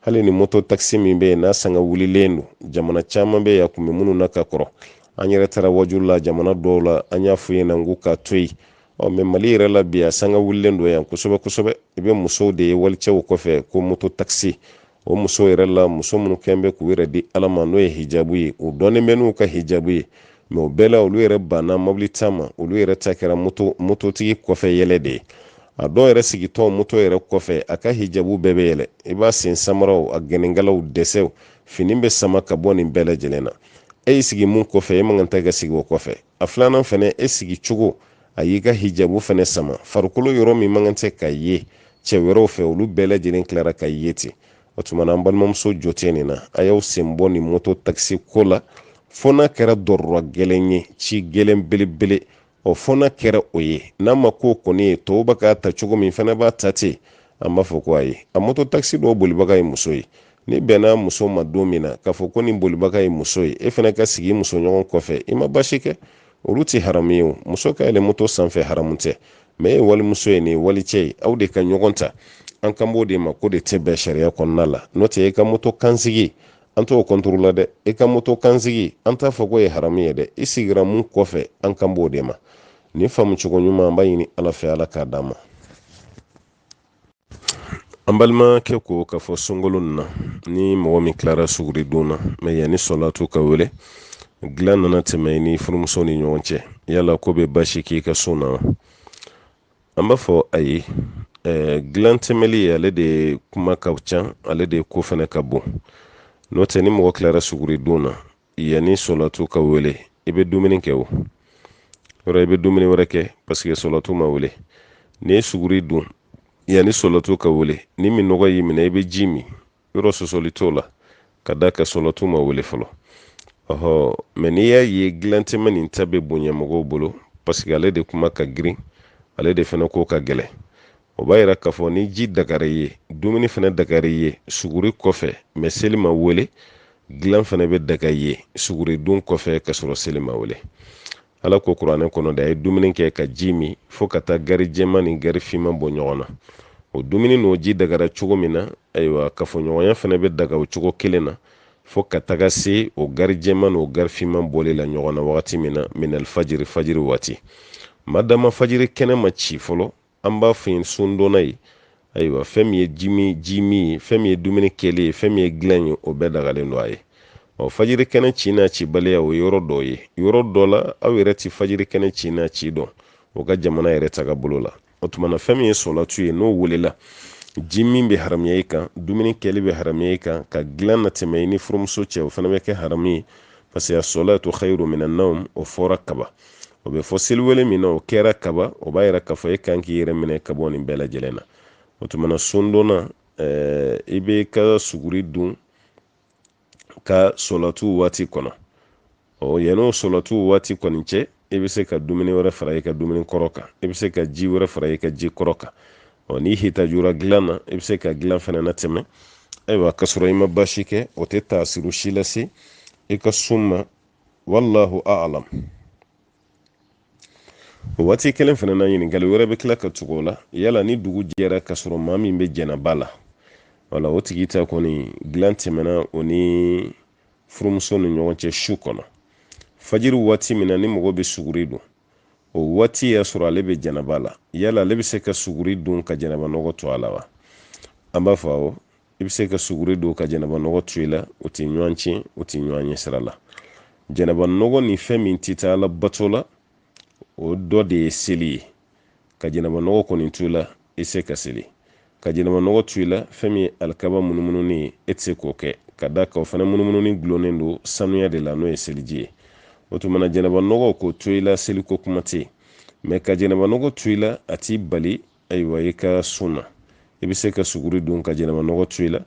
hali ni moto takisi min bɛ yen n'a sanga wulilen don jamana caman bɛ yen a tun bɛ minnu na ka kɔrɔ an yɛrɛ taara wajulu la jamana dɔw la an y'a f'u ɲɛna k'u k'a to yen ɔ mɛ mali yɛrɛ la bi a sanga wulilen don yan kosɛbɛ kosɛbɛ i bɛ musow de ye walicɛw kɔfɛ ko moto takisi o muso yɛrɛ la muso minnu kɛn bɛ k'u yɛrɛ di ala ma n'o ye hijabu ye u dɔnnen bɛ n'u ka hijabu ye mɛ o bɛɛ la olu yɛrɛ banna mobili ta ma olu yɛrɛ ta kɛra moto mototigi kɔfɛ yɛlɛ de ye a dɔw yɛrɛ sigitɔ moto yɛrɛ kɔfɛ a ka hijabu bɛɛ bɛ yɛlɛ i b'a sen samaraw a gɛnɛnkalaw dɛsɛw fini bɛ sama ka bɔ nin bɛɛ lajɛlen na e y'i sigi mun kɔfɛ e man kan tɛ ka sigi o kɔfɛ a filanan fɛnɛ e sigi cogo a y'i ka hijabu fɛnɛ sama farikolo yɔrɔ min man kan tɛ ka ye cɛ wɛrɛw fɛ olu bɛɛ lajɛlen tilara ka ye ten o tuma na an balimamuso jo tɛ nin na a y'aw sen bɔ nin moto takisi ko la fo n'a kɛra dɔrɔra gɛlɛn ye ci gɛlɛn belebele ɔ fo n'a kɛra o ye n'a ma k'o kɔni ye tɔw bɛ k'a ta cogo min fɛnɛ b'a ta ten an b'a fɔ ko ayi a moto takisi dɔw bolibaga ye muso ye n'i bɛnna muso ma don min na k'a fɔ ko nin bolibaga ye muso ye e fana ka sigi musoɲɔgɔn kɔfɛ i ma basi kɛ olu tɛ haramu ye o muso ka yɛlɛ moto sanfɛ haramu tɛ mɛ e ye walimuso ye nin ye walicɛ ye aw de ka ɲɔgɔn ta an kan b'o de ma k'o de tɛ bɛn sariya kɔnɔna la n'o tɛ e ka moto kan sigi an t'o kɔntoro la dɛ e ka moto kan sigi an t'a fɔ k'o ye haramu ye dɛ i sigira min kɔfɛ an kan b'o de ma nin faamu cogo ɲuman an b'a ɲini ala fɛ ala k'a d'an ma an balimakɛ ko k'a fɔ sunkalo na ni mɔgɔ min tilara suguri dun na mɛ yanni sɔlatu ka wele dilan nana tɛmɛ i ni furumuso ni ɲɔgɔn cɛ yala k'o bɛ basi k'i ka sun na wa an b'a fɔ ayi dilan tɛmɛli ale de kuma ka ca ale de ko fana ka bon n'o tɛ ni mɔgɔ tilara suguri dun na yanni sɔlatu ka wele i bɛ dumuni kɛ o yɔrɔ i bɛ dumuni wɛrɛ kɛ paseke sɔlatu ma wele n'i ye suguri dun yanni sɔlatu ka wele ni minnɔgɔ y'i minɛ i bɛ ji min yɔrɔ sɔsɔli t'o la ka d'a kan sɔlatu ma wele fɔlɔ ɔhɔ mɛ n'i y'a ye gilan tɛmɛ nin ta bɛ bonya mɔgɔw bolo paseke ale de kuma ka girin ale de fana ko ka gɛlɛn o b'a yira k'a fɔ ni ji dagara i ye dumuni fana dagara i ye suguri kɔfɛ mɛ seli ma wele dilan fana bɛ daga i ye suguri dun kɔfɛ ka sɔrɔ seli ma wele ala ko kuranɛ kɔnɔ da a ye dumuni kɛ ka ji min fo ka taa gari jɛman ni gari finman bɔ ɲɔgɔn na o dumuni n'o ji dagara cogo min na ayiwa kafoɲɔgɔnya fana bɛ daga o cogo kelen na fo ka taga se o gari jɛman n'o gari finman bɔli la ɲɔgɔn na wagati min na minal fajiri fajiri waati madama fajiri kɛnɛ ma ci fɔlɔ an b'a fɔ yen sundonna ye ayiwa fɛn min ye ji min ye fɛn min ye dumuni kɛli ye fɛn min ye dilan ye o bɛɛ dagalen don a ye ɔ fajiri kɛnɛ ci n'a cibaliya o ye yɔrɔ dɔ ye yɔrɔ dɔ la aw yɛrɛ tɛ fajiri kɛnɛ ci n'a ci dɔn o ka jamana yɛrɛ taga bolo la o tuma na fɛn min ye sɔlatu ye n'o welela ji min bɛ haramuya i kan dumuni kɛli bɛ haramuya i kan ka dilan natɛmɛ i ni furumuso cɛ o fana bɛ kɛ haramu ye parce que as-salatu khayru minan nawm o fɔra kaba o bɛ fɔ seliwele min na o kɛra kaba o b'a yira k'a fɔ e kan k'i yɛrɛ minɛ ka bɔ nin bɛɛ lajɛlen na o tuma na sundonna i bɛ ka suguri dun ka sɔlatu waati kɔnɔ ɔ yanni o sɔlatu waati kɔni cɛ i bɛ se ka dumuni wɛrɛ fara i ka dumuni kɔrɔ kan i bɛ se ka ji wɛrɛ fara i ka ji kɔrɔ kan ɔ n'i hitajura dilan na i bɛ se ka dilan fana natɛmɛ ayiwa ka sɔrɔ i ma baasi kɛ o tɛ taasiru si lase i ka sun ma wallahu a'lam o waati kelen fana na ɲininkali wɛrɛ bɛ tila ka tugu o la yala ni dugu jɛra k'a sɔrɔ maa min bɛ jɛnaba la wala o tigi ta kɔni dilan tɛmɛna o ni furumuso ni ɲɔgɔn cɛ su kɔnɔ fajiri waati min na ni mɔgɔ bɛ suguri dun o waati y'a sɔrɔ ale bɛ jɛnaba la yala ale bɛ se ka suguri dun ka jɛnaba nɔgɔ to a la wa an b'a fɔ awɔ i bɛ se ka suguri dun ka jɛnɛba nɔgɔ to i la o tɛ ɲɔgɔn tiɲɛ o tɛ ɲɔgɔn ɲɛ sira la jɛnɛba nɔgɔ ni fɛn min tɛ taa ala bato la o dɔ de ye seli ye ka jɛnɛba nɔgɔ kɔni to i la i tɛ se ka seli ka jɛnɛba nɔgɔ to i la fɛn min ye alikaba munumununi ye e tɛ se k'o kɛ ka d'a kan o fana munumununi dulonnen don sanuya de la n'o ye seliji ye o tuma na jɛnɛba nɔgɔ k'o to i la seliko kuma tɛ yen mɛ ka jɛnɛba nɔgɔ to i la a t'i bali ayiwa i ka sun na i bɛ se ka suguri dun ka jɛnɛba nɔgɔ to i la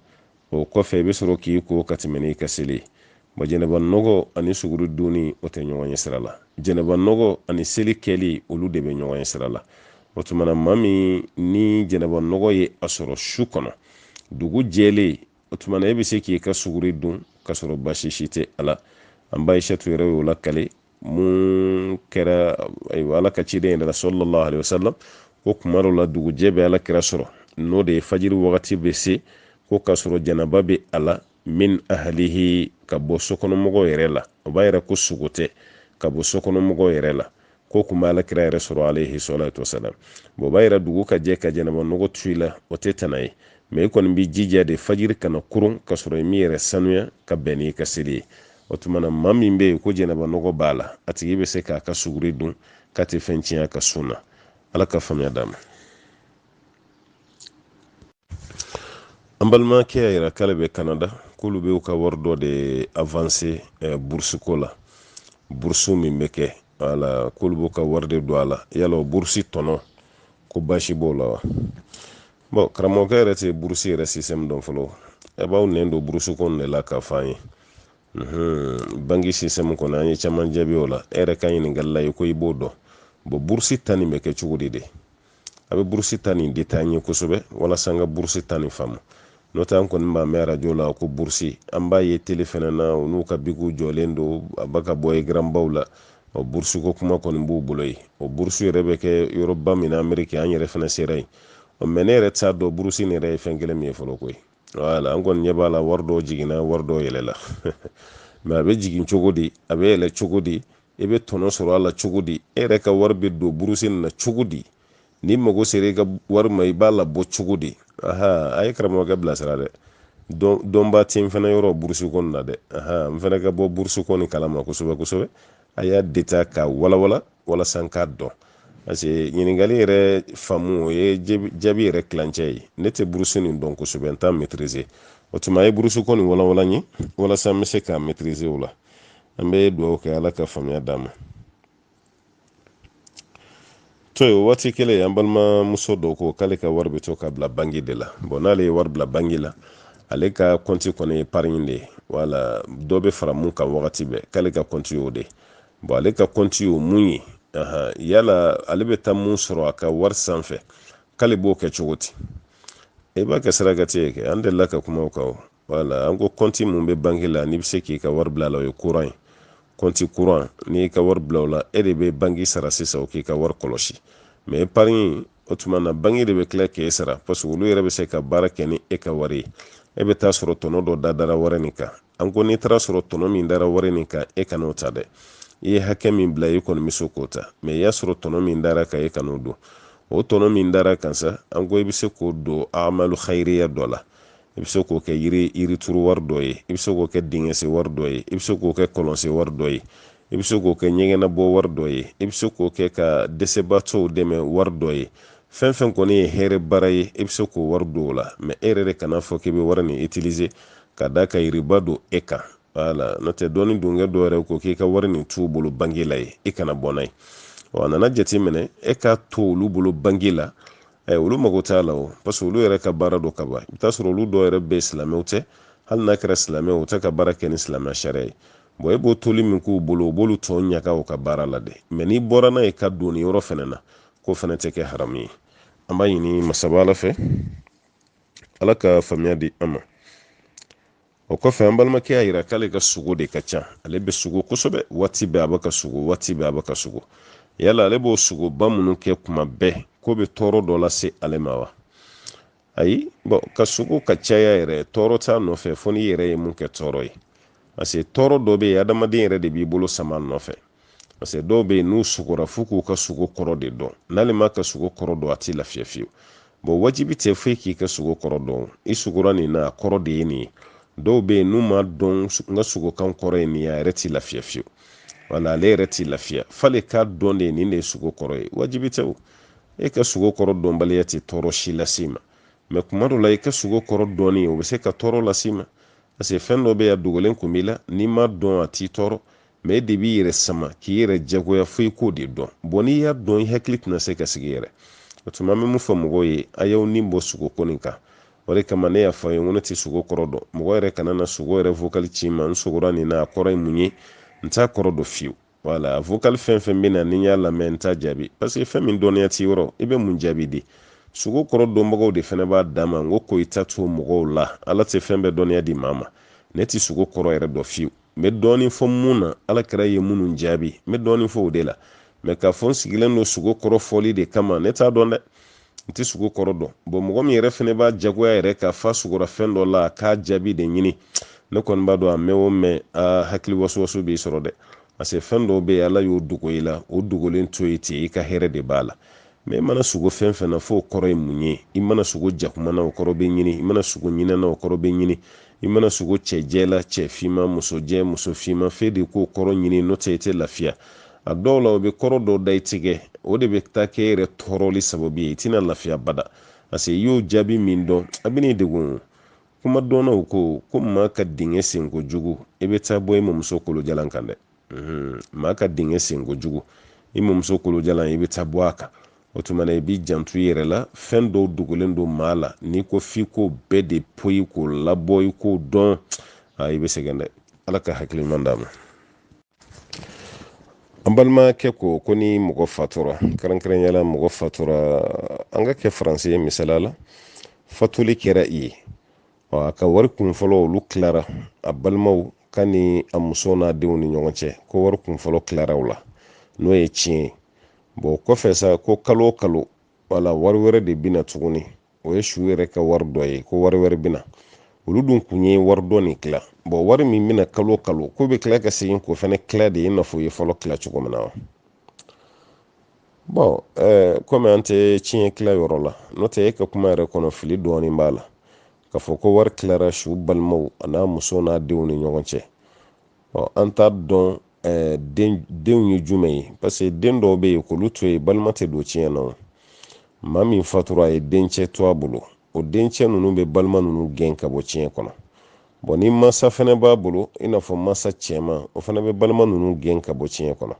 o kɔfɛ i bɛ sɔrɔ k'i ko ka tɛmɛ n'i ka seli ye wa jɛnɛba nɔgɔ ani suguri dunni o tɛ ɲɔgɔn ye sira la jɛnɛba nɔgɔ ani seli kɛli olu de bɛ ɲɔgɔn ye sira la o tuma na maa min ni jɛnɛba nɔgɔ ye a sɔrɔ su kɔnɔ dugu jɛlen o tuma na e bɛ se k'i ka suguri dun ka sɔrɔ baasi si tɛ a la an ba aishatu yɛrɛ y'o lakale mun kɛra ala ka ciden yɛrɛ la sallallahu alaihi wasallam ko kuma dɔ la dugujɛ bɛ ala kira sɔrɔ n'o de ye fajiri wagati bɛ se ko k'a sɔrɔ janaba bɛ a la min ahalihi ka bɔ sokɔnɔmɔgɔw yɛrɛ la o b'a yira ko sugo tɛ ka bɔ sokɔnɔmɔgɔw yɛrɛ la ko kun bɛ ala kira yɛrɛ sɔrɔ alayhi salatu wasalam bɔn o b'a yira dugu ka jɛ ka jɛnɛba nɔgɔ to i la o tɛ tana ye mɛ i kɔni b'i jija de fajiri kana koron ka sɔrɔ i m'i yɛrɛ sanuya ka bɛn n'i ka seli ye o tuma na maa min bɛ yen ko jɛnɛba nɔgɔ b'a la a tigi bɛ se k'a ka suguri dun k'a tɛ fɛn tiɲɛ a ka sun na ala ka faamuya d'an ma an balimakɛ y'a yira k'ale bɛ kanada k'olu bɛ u ka wari dɔ de avanse eh, burusi ko la burusi min bɛ kɛ wala k'olu b'u ka wari de don a la yala o burusi tɔnɔ ko baasi b'o la wa bɔn karamɔgɔkɛ yɛrɛ tɛ burusi yɛrɛ sisɛmu dɔn fɔlɔ a b'an nɛn don burusi ko de la k'a fɔ an ye banki sisɛmu kɔnɔ an ye caman jaabi o la e yɛrɛ ka ɲininkali la i ko i b'o dɔn bɔn burusi ta nin bɛ kɛ cogo di de a bɛ burusi ta nin detaye kosɛbɛ walasa an ka burusi ta nin faamu n'o tɛ an kɔni b'a mɛn arajo la ko burusi an b'a ye tele fɛnɛ na u n'u ka bikiw jɔlen don a bɛ ka bɔ ekaranbaw la ɔ burusi ko kuma kɔni b'u bolo yen o burusi yɛrɛ bɛ kɛ yɔrɔba min na ameriki an yɛrɛ fɛnɛ sera yen ɔ mɛ ne yɛrɛ t'a dɔn burusi nin yɛrɛ ye fɛn kelen min ye fɔlɔ koyi wala an kɔni ɲɛ b'a la wari dɔw jiginna wari dɔw yɛlɛla mɛ a bɛ jigin cogo di a bɛ yɛlɛ cogo di i bɛ tɔnɔ sɔrɔ a la cogo di e yɛrɛ ka wari bɛ don burusi nin na cogo di n'i mago sera i ka wari ma i b'a labɔ cogo di aha a ye karamɔgɔkɛ bilasira dɛ dɔnba ti n fana yɔrɔ burusi ko nin na dɛ aha n fana ka bɔ burusi ko nin kalama kosɛbɛ kosɛbɛ a y'a deta ka walawala walasa n k'a dɔn parce que ɲininkali yɛrɛ faamu o ye jaabi yɛrɛ kilancɛ ye ne tɛ burusi nin dɔn kosɛbɛ n t'a maîtriser o tuma a ye burusi ko nin walawala n ye walasa n bɛ se k'a maîtriser o la an bɛ dugawu kɛ ala ka faamuya d'an ma to ye waati kelen an balimamuso dɔ ko k'ale ka wari bɛ to ka bila bangi de la bɔn n'ale ye wari bila bangi la ale ka kɔnti kɔni ye epariɲi de ye wala dɔ bɛ fara mun kan wagati bɛɛ k'ale ka kɔnti y'o de ye bɔn ale ka kɔnti o mun ye yala ale bɛ taa mun sɔrɔ a ka wari sanfɛ k'ale b'o kɛ cogo di e b'a kɛ sarakati ye kɛ an delila ka kuma o kan wala an ko kɔnti mun bɛ banki la n'i bɛ se k'i ka wari bila la o ye kuran ye kɔnti kuran n'i y'i ka wari bila o la e de bɛ banki sara sisan o k'i ka wari kɔlɔsi mɛ epariɲi o tuma na banki de bɛ tila k'e sara paseke olu yɛrɛ bɛ se ka baara kɛ ni e ka wari ye e bɛ taa sɔrɔ tɔnɔ dɔ dadara wari nin kan an ko n'i taara sɔrɔ tɔnɔ min dara wari nin kan e kan'o ta dɛ i ye hakɛ min bila i kɔni bɛ se k'o ta mɛ i y'a sɔrɔ tɔnɔ min dara kan e kan'o dun o tɔnɔ min dara kan sa an ko i bɛ se k'o don amalu hayiriya dɔ la i bɛ se k'o kɛ yiri yirituru wari dɔ ye i bɛ se k'o kɛ dingɛsen wari dɔ ye i bɛ se k'o kɛ kɔlɔnsen wari dɔ ye i bɛ se k'o kɛ ɲɛgɛnnabɔ wari dɔ ye i bɛ se k'o kɛ ka dɛsɛbaatɔw dɛmɛ wari dɔ ye fɛn fɛn kɔni ye hɛrɛ baara ye i bɛ se k'o wari don o la mɛ e yɛrɛ de kan'a fɔ k'i bɛ wari nin itilize ka d'a kan riba don e kan wala n'o tɛ dɔɔni donkɛ dɔ yɛrɛ ko k'i ka wari nin t'u bolo bangi la yen i kana bɔ n'a ye wa a nana jateminɛ e k'a to olu bolo bangi la ɛ olu mago t'a la o parce que olu yɛrɛ ka baara don ka ban i bɛ t'a sɔrɔ olu dɔw yɛrɛ bɛ silamɛw tɛ hali n'a kɛra silamɛw u tɛ ka baara kɛ ni silamɛ sariya ye bɔn e b'o toli min k'u bolo o b'olu tɔn ɲaga u ka baara la dɛ mɛ n'i bɔra n'a ye k'a don nin yɔrɔ fɛnɛ na k'o fɛnɛ tɛ kɛ haramu ye an b'a ɲini masaba ala fɛ ala ka faamuya di an ma o kɔfɛ an balimakɛ y'a yira k'ale ka sugo de ka ca ale bɛ sugo kosɛbɛ waati bɛɛ a bɛ ka sugo waati bɛɛ a bɛ ka sugo yala ale b'o sugoba minnu kɛ kuma bɛɛ k'o bɛ tɔɔrɔ dɔ lase ale ma wa ayi bɔn ka sugo ka caya yɛrɛ tɔɔrɔ t'a nɔfɛ fo n'i yɛrɛ ye mun kɛ tɔɔrɔ ye parce tɔɔrɔ dɔ bɛ yen adamaden yɛrɛ de b'i bolo sama nɔfɛ parce dɔw bɛ yen n'u sugora f'u k'u ka sugo kɔrɔ de dɔn n'ale m'a ka sugo kɔrɔ dɔn a t'i lafiya fiyewu bɔn wajibi tɛ foyi k'i ka sugo kɔrɔ dɔn i sugora nin na a kɔrɔ de ye nin ye dɔw bɛ yen n'u m'a dɔn n ka sugokan kɔrɔ ye nin ye a yɛrɛ t'i lafiya fiyewu wala ale yɛrɛ t'i lafiya f'ale k'a dɔn de nin de ye sugo kɔrɔ ye wajibi tɛ o e ka sugo kɔrɔ dɔnbaliya tɛ tɔɔrɔ si lase i ma mɛ kuma dɔ la i ka sugo kɔrɔ dɔnni o bɛ se ka tɔɔrɔ lase i ma parce que fɛn dɔ bɛ yen a dogolen kun b'i la n'i m'a dɔn a t'i tɔɔrɔ mɛ e de b'i yɛrɛ sama k'i yɛrɛ jagoya fo i k'o de dɔn bɔn n'i y'a dɔn i hakili tɛna se ka sigi yɛrɛ o tuma an bɛ mun fɔ mɔgɔw ye a y'aw ni bɔ sugo ko nin kan o de kama ne y'a fɔ a ye n ko ne tɛ sugo kɔrɔ dɔn mɔgɔ yɛrɛ kana na sugo yɛrɛ vokali ci n ma n sugora nin na a kɔrɔ ye mun ye n t'a kɔrɔ dɔn fiyewu voilà vocal fɛn fɛn bɛ na ni n y'a lamɛn n t'a jaabi parce que fɛn min dɔnniya t'i yɔrɔ i bɛ mun jaabi di sogo kɔrɔ dɔnbagaw de fana b'a dan ma n ko ko i ta to mɔgɔw la ala tɛ fɛn bɛɛ dɔnniya di maa ma ne tɛ sogo kɔrɔ yɛrɛ dɔn fiyewu n bɛ dɔɔnin fɔ mun na ala kira ye minnu jaabi n bɛ dɔɔnin fɔ o de la mais k'a fɔ n sigilen don sogo kɔrɔ fɔli de kama ne t'a dɔn dɛ n tɛ sogo kɔrɔ dɔn bon mɔgɔ min yɛrɛ fana b'a jagoya yɛrɛ kan f'a sogora fɛn dɔ la k'a jaabi de ɲini ne kɔni b'a dɔn a mɛn o mɛn a hakili wasowaso b'i sɔrɔ dɛ parce que fɛn dɔw bɛ yen ala y'o dogo i la o dogolen to yen ten i ka hɛrɛ de b'a la mais i mana sogo fɛn fɛn na f'o kɔrɔ ye mun ye i mana sogo jakuma na o kɔrɔ bɛ ɲini i mana sogo ɲinɛ na o kɔrɔ bɛ ɲini i mana sogo cɛ jɛ la cɛ finman muso jɛ muso finman f'e de k'o kɔrɔ ɲini n'o tɛ i tɛ lafiya a dɔw la o bɛ kɔrɔ dɔ da i tigɛ o de bɛ taa kɛ e yɛrɛ tɔɔrɔli sababu ye i tɛna lafiya bada parce que i y'o jaabi min dɔn a bɛn'i degun kuma dɔnnaw ko ko maa ka dingɛ sen kojugu i bɛ taa bɔ i mamuso kolojalan kan dɛ mhm. maa ka dingɛ sen kojugu i mamuso kolojalan i bɛ taa bɔ a kan o tuma na i b'i janto i yɛrɛ la fɛn dɔw dogolen don maa la n'i ko f'i k'o bɛɛ de poyi k'o labɔ i k'o dɔn i bɛ sɛgɛn dɛ ala ka hakili ɲuman d'an ma an balimakɛ ko ko ni mɔgɔ fatura kɛrɛnkɛrɛnya la mɔgɔ fatura an k'a kɛ faransi ye misali la fatuli kɛra yen a ka wari kun fɔlɔ olu tilara a balimaw ka ni a muso n'a denw ni ɲɔgɔn cɛ ko wari kun fɔlɔ tilara u la n'o ye tiɲɛ ye bon kɔfɛ sa ko kalo o kalo wala wari wɛrɛ de bɛ na tuguni o ye su yɛrɛ ka wari dɔ ye ko wari wɛrɛ bɛ na olu dun kun ye wari dɔ nin tila bon wari min bɛ na kalo kalo k'o bɛ tila ka segin k'o fana tila de i n'a fɔ u ye fɔlɔ tila cogo min na wa bon eh, kɔmi an tɛ tiɲɛ tila yɔrɔ la n'o tɛ e ka kuma yɛrɛ kɔnɔ fili dɔɔnin b'a la k'a fɔ ko wari tilara su balimaw an'a muso n'a denw ni ɲɔgɔn cɛ ɔ an t'a dɔn eh, den denw ye jumɛn ye parce que den dɔw bɛ yen k'olu to yen balima tɛ don tiɲɛ na maa min fatura a ye dencɛ to a bolo o dencɛ ninnu bɛ balima ninnu gɛn ka bɔ tiɲɛ kɔnɔ bon ni mansa fɛnɛ b'a bolo i n'a fɔ mansa cɛman o fana bɛ balima ninnu gɛn ka bɔ tiɲɛ kɔnɔ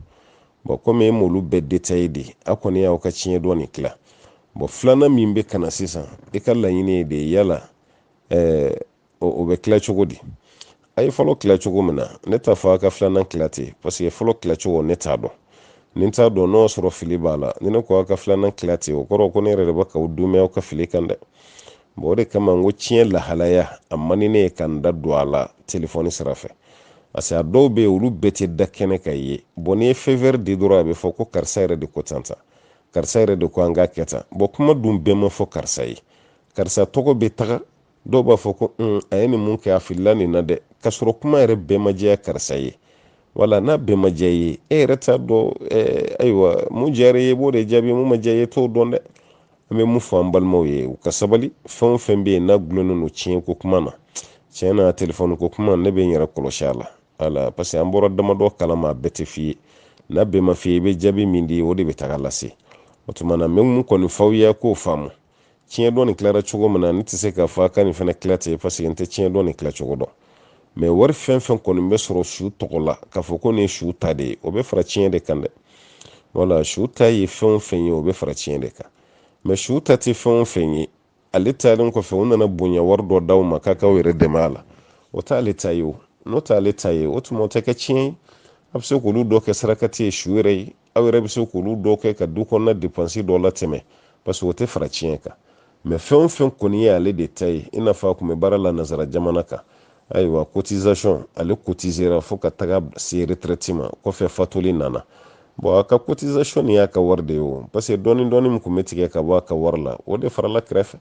bon komi e m'olu bɛɛ détaillé de a kɔni y'aw ka tiɲɛ dɔ nin tila bon filanan min bɛ ka na sisan i ka laɲini ye de yala eh, o bɛ kila cogo di a ye fɔlɔ kila cogo min na ne t'a fɔ a ka filanan kila ten parce que fɔlɔ kila cogo ne t'a dɔn ne t'a dɔn n'o y'a sɔrɔ fili b'a la ni ne ko aw ka filanan kila ten o kɔrɔ ko ne yɛrɛ de bɛ k'aw dɛmɛ aw ka fili kan dɛ bon o de kama n ko tiɲɛ lahalaya a man di ne ye ka n da don a la telefɔni sira fɛ parce que a dɔw bɛ yen olu bɛɛ tɛ da kɛnɛ kan i ye bon n'i ye feu vert di dɔrɔn a bɛ fɔ ko karisa yɛrɛ de ko tan tan karisa yɛrɛ de ko an k'a kɛ tan bon kuma dun bɛɛ ma fɔ karisa ye karisa tɔgɔ bɛ taga dɔw b'a fɔ ko un a ye nin mun kɛ a filila nin na dɛ k'a sɔrɔ kuma yɛrɛ bɛɛ ma jɛya karisa ye wala n'a bɛɛ ma jɛya i ye e yɛrɛ t'a dɔn ayiwa mun jɛyara i ye i b'o de jaabi mun ma jɛya i ye t'o dɔn dɛ an bɛ mun fɔ an balimaw ye u ka sabali fɛn o fɛn bɛ yen n'a gulonnen don tiɲɛ ko kuma na tiɲɛ na telefɔni ko kuma ne bɛ n yɛrɛ kɔlɔsi a la wala parce que an bɔra damadɔ kalama a bɛɛ tɛ f'i ye n'a bɛɛ ma f'i ye i bɛ jaabi min di o de bɛ taga lase o tuma na n bɛ mun kɔni f'aw ye k'o faamu tiɲɛ dɔ nin tilara cogo min na ne tɛ se k'a fɔ a ka nin fana tila ten parce que n tɛ tiɲɛ dɔ nin tila cogo dɔn mɛ wari fɛn fɛn kɔni bɛ sɔrɔ su tɔgɔ la k'a fɔ ko nin ye su ta de ye o bɛ fara tiɲɛ de kan dɛ wala su ta ye fɛn o fɛn ye o bɛ fara tiɲɛ de kan mɛ su ta tɛ fɛn o fɛn ye ale taalen kɔfɛ u nana bonya wari dɔ d'aw ma k'a k'aw yɛrɛ dɛmɛ a la o t'ale ta ye o n'o t'ale ta ye o tuma o tɛ kɛ tiɲɛ ye a bɛ se k'olu dɔ kɛ sarakati ye su yɛrɛ ye aw yɛrɛ bɛ se k'olu dɔ kɛ ka du kɔnɔna depansi dɔ latɛmɛ parce que o tɛ fara tiɲɛ kan mɛ fɛn o fɛn kɔni ye ale de ta ye i n'a fɔ a tun bɛ baara la nanzara jamana kan ayiwa cotisation ale cotisera fo ka taga se retraite ma kɔfɛ fatuli nana bon a ka cotisation nin y'a ka wari de ye o parce que dɔɔni dɔɔni min tun bɛ tigɛ ka bɔ a ka wari la o de farala kɛrɛfɛ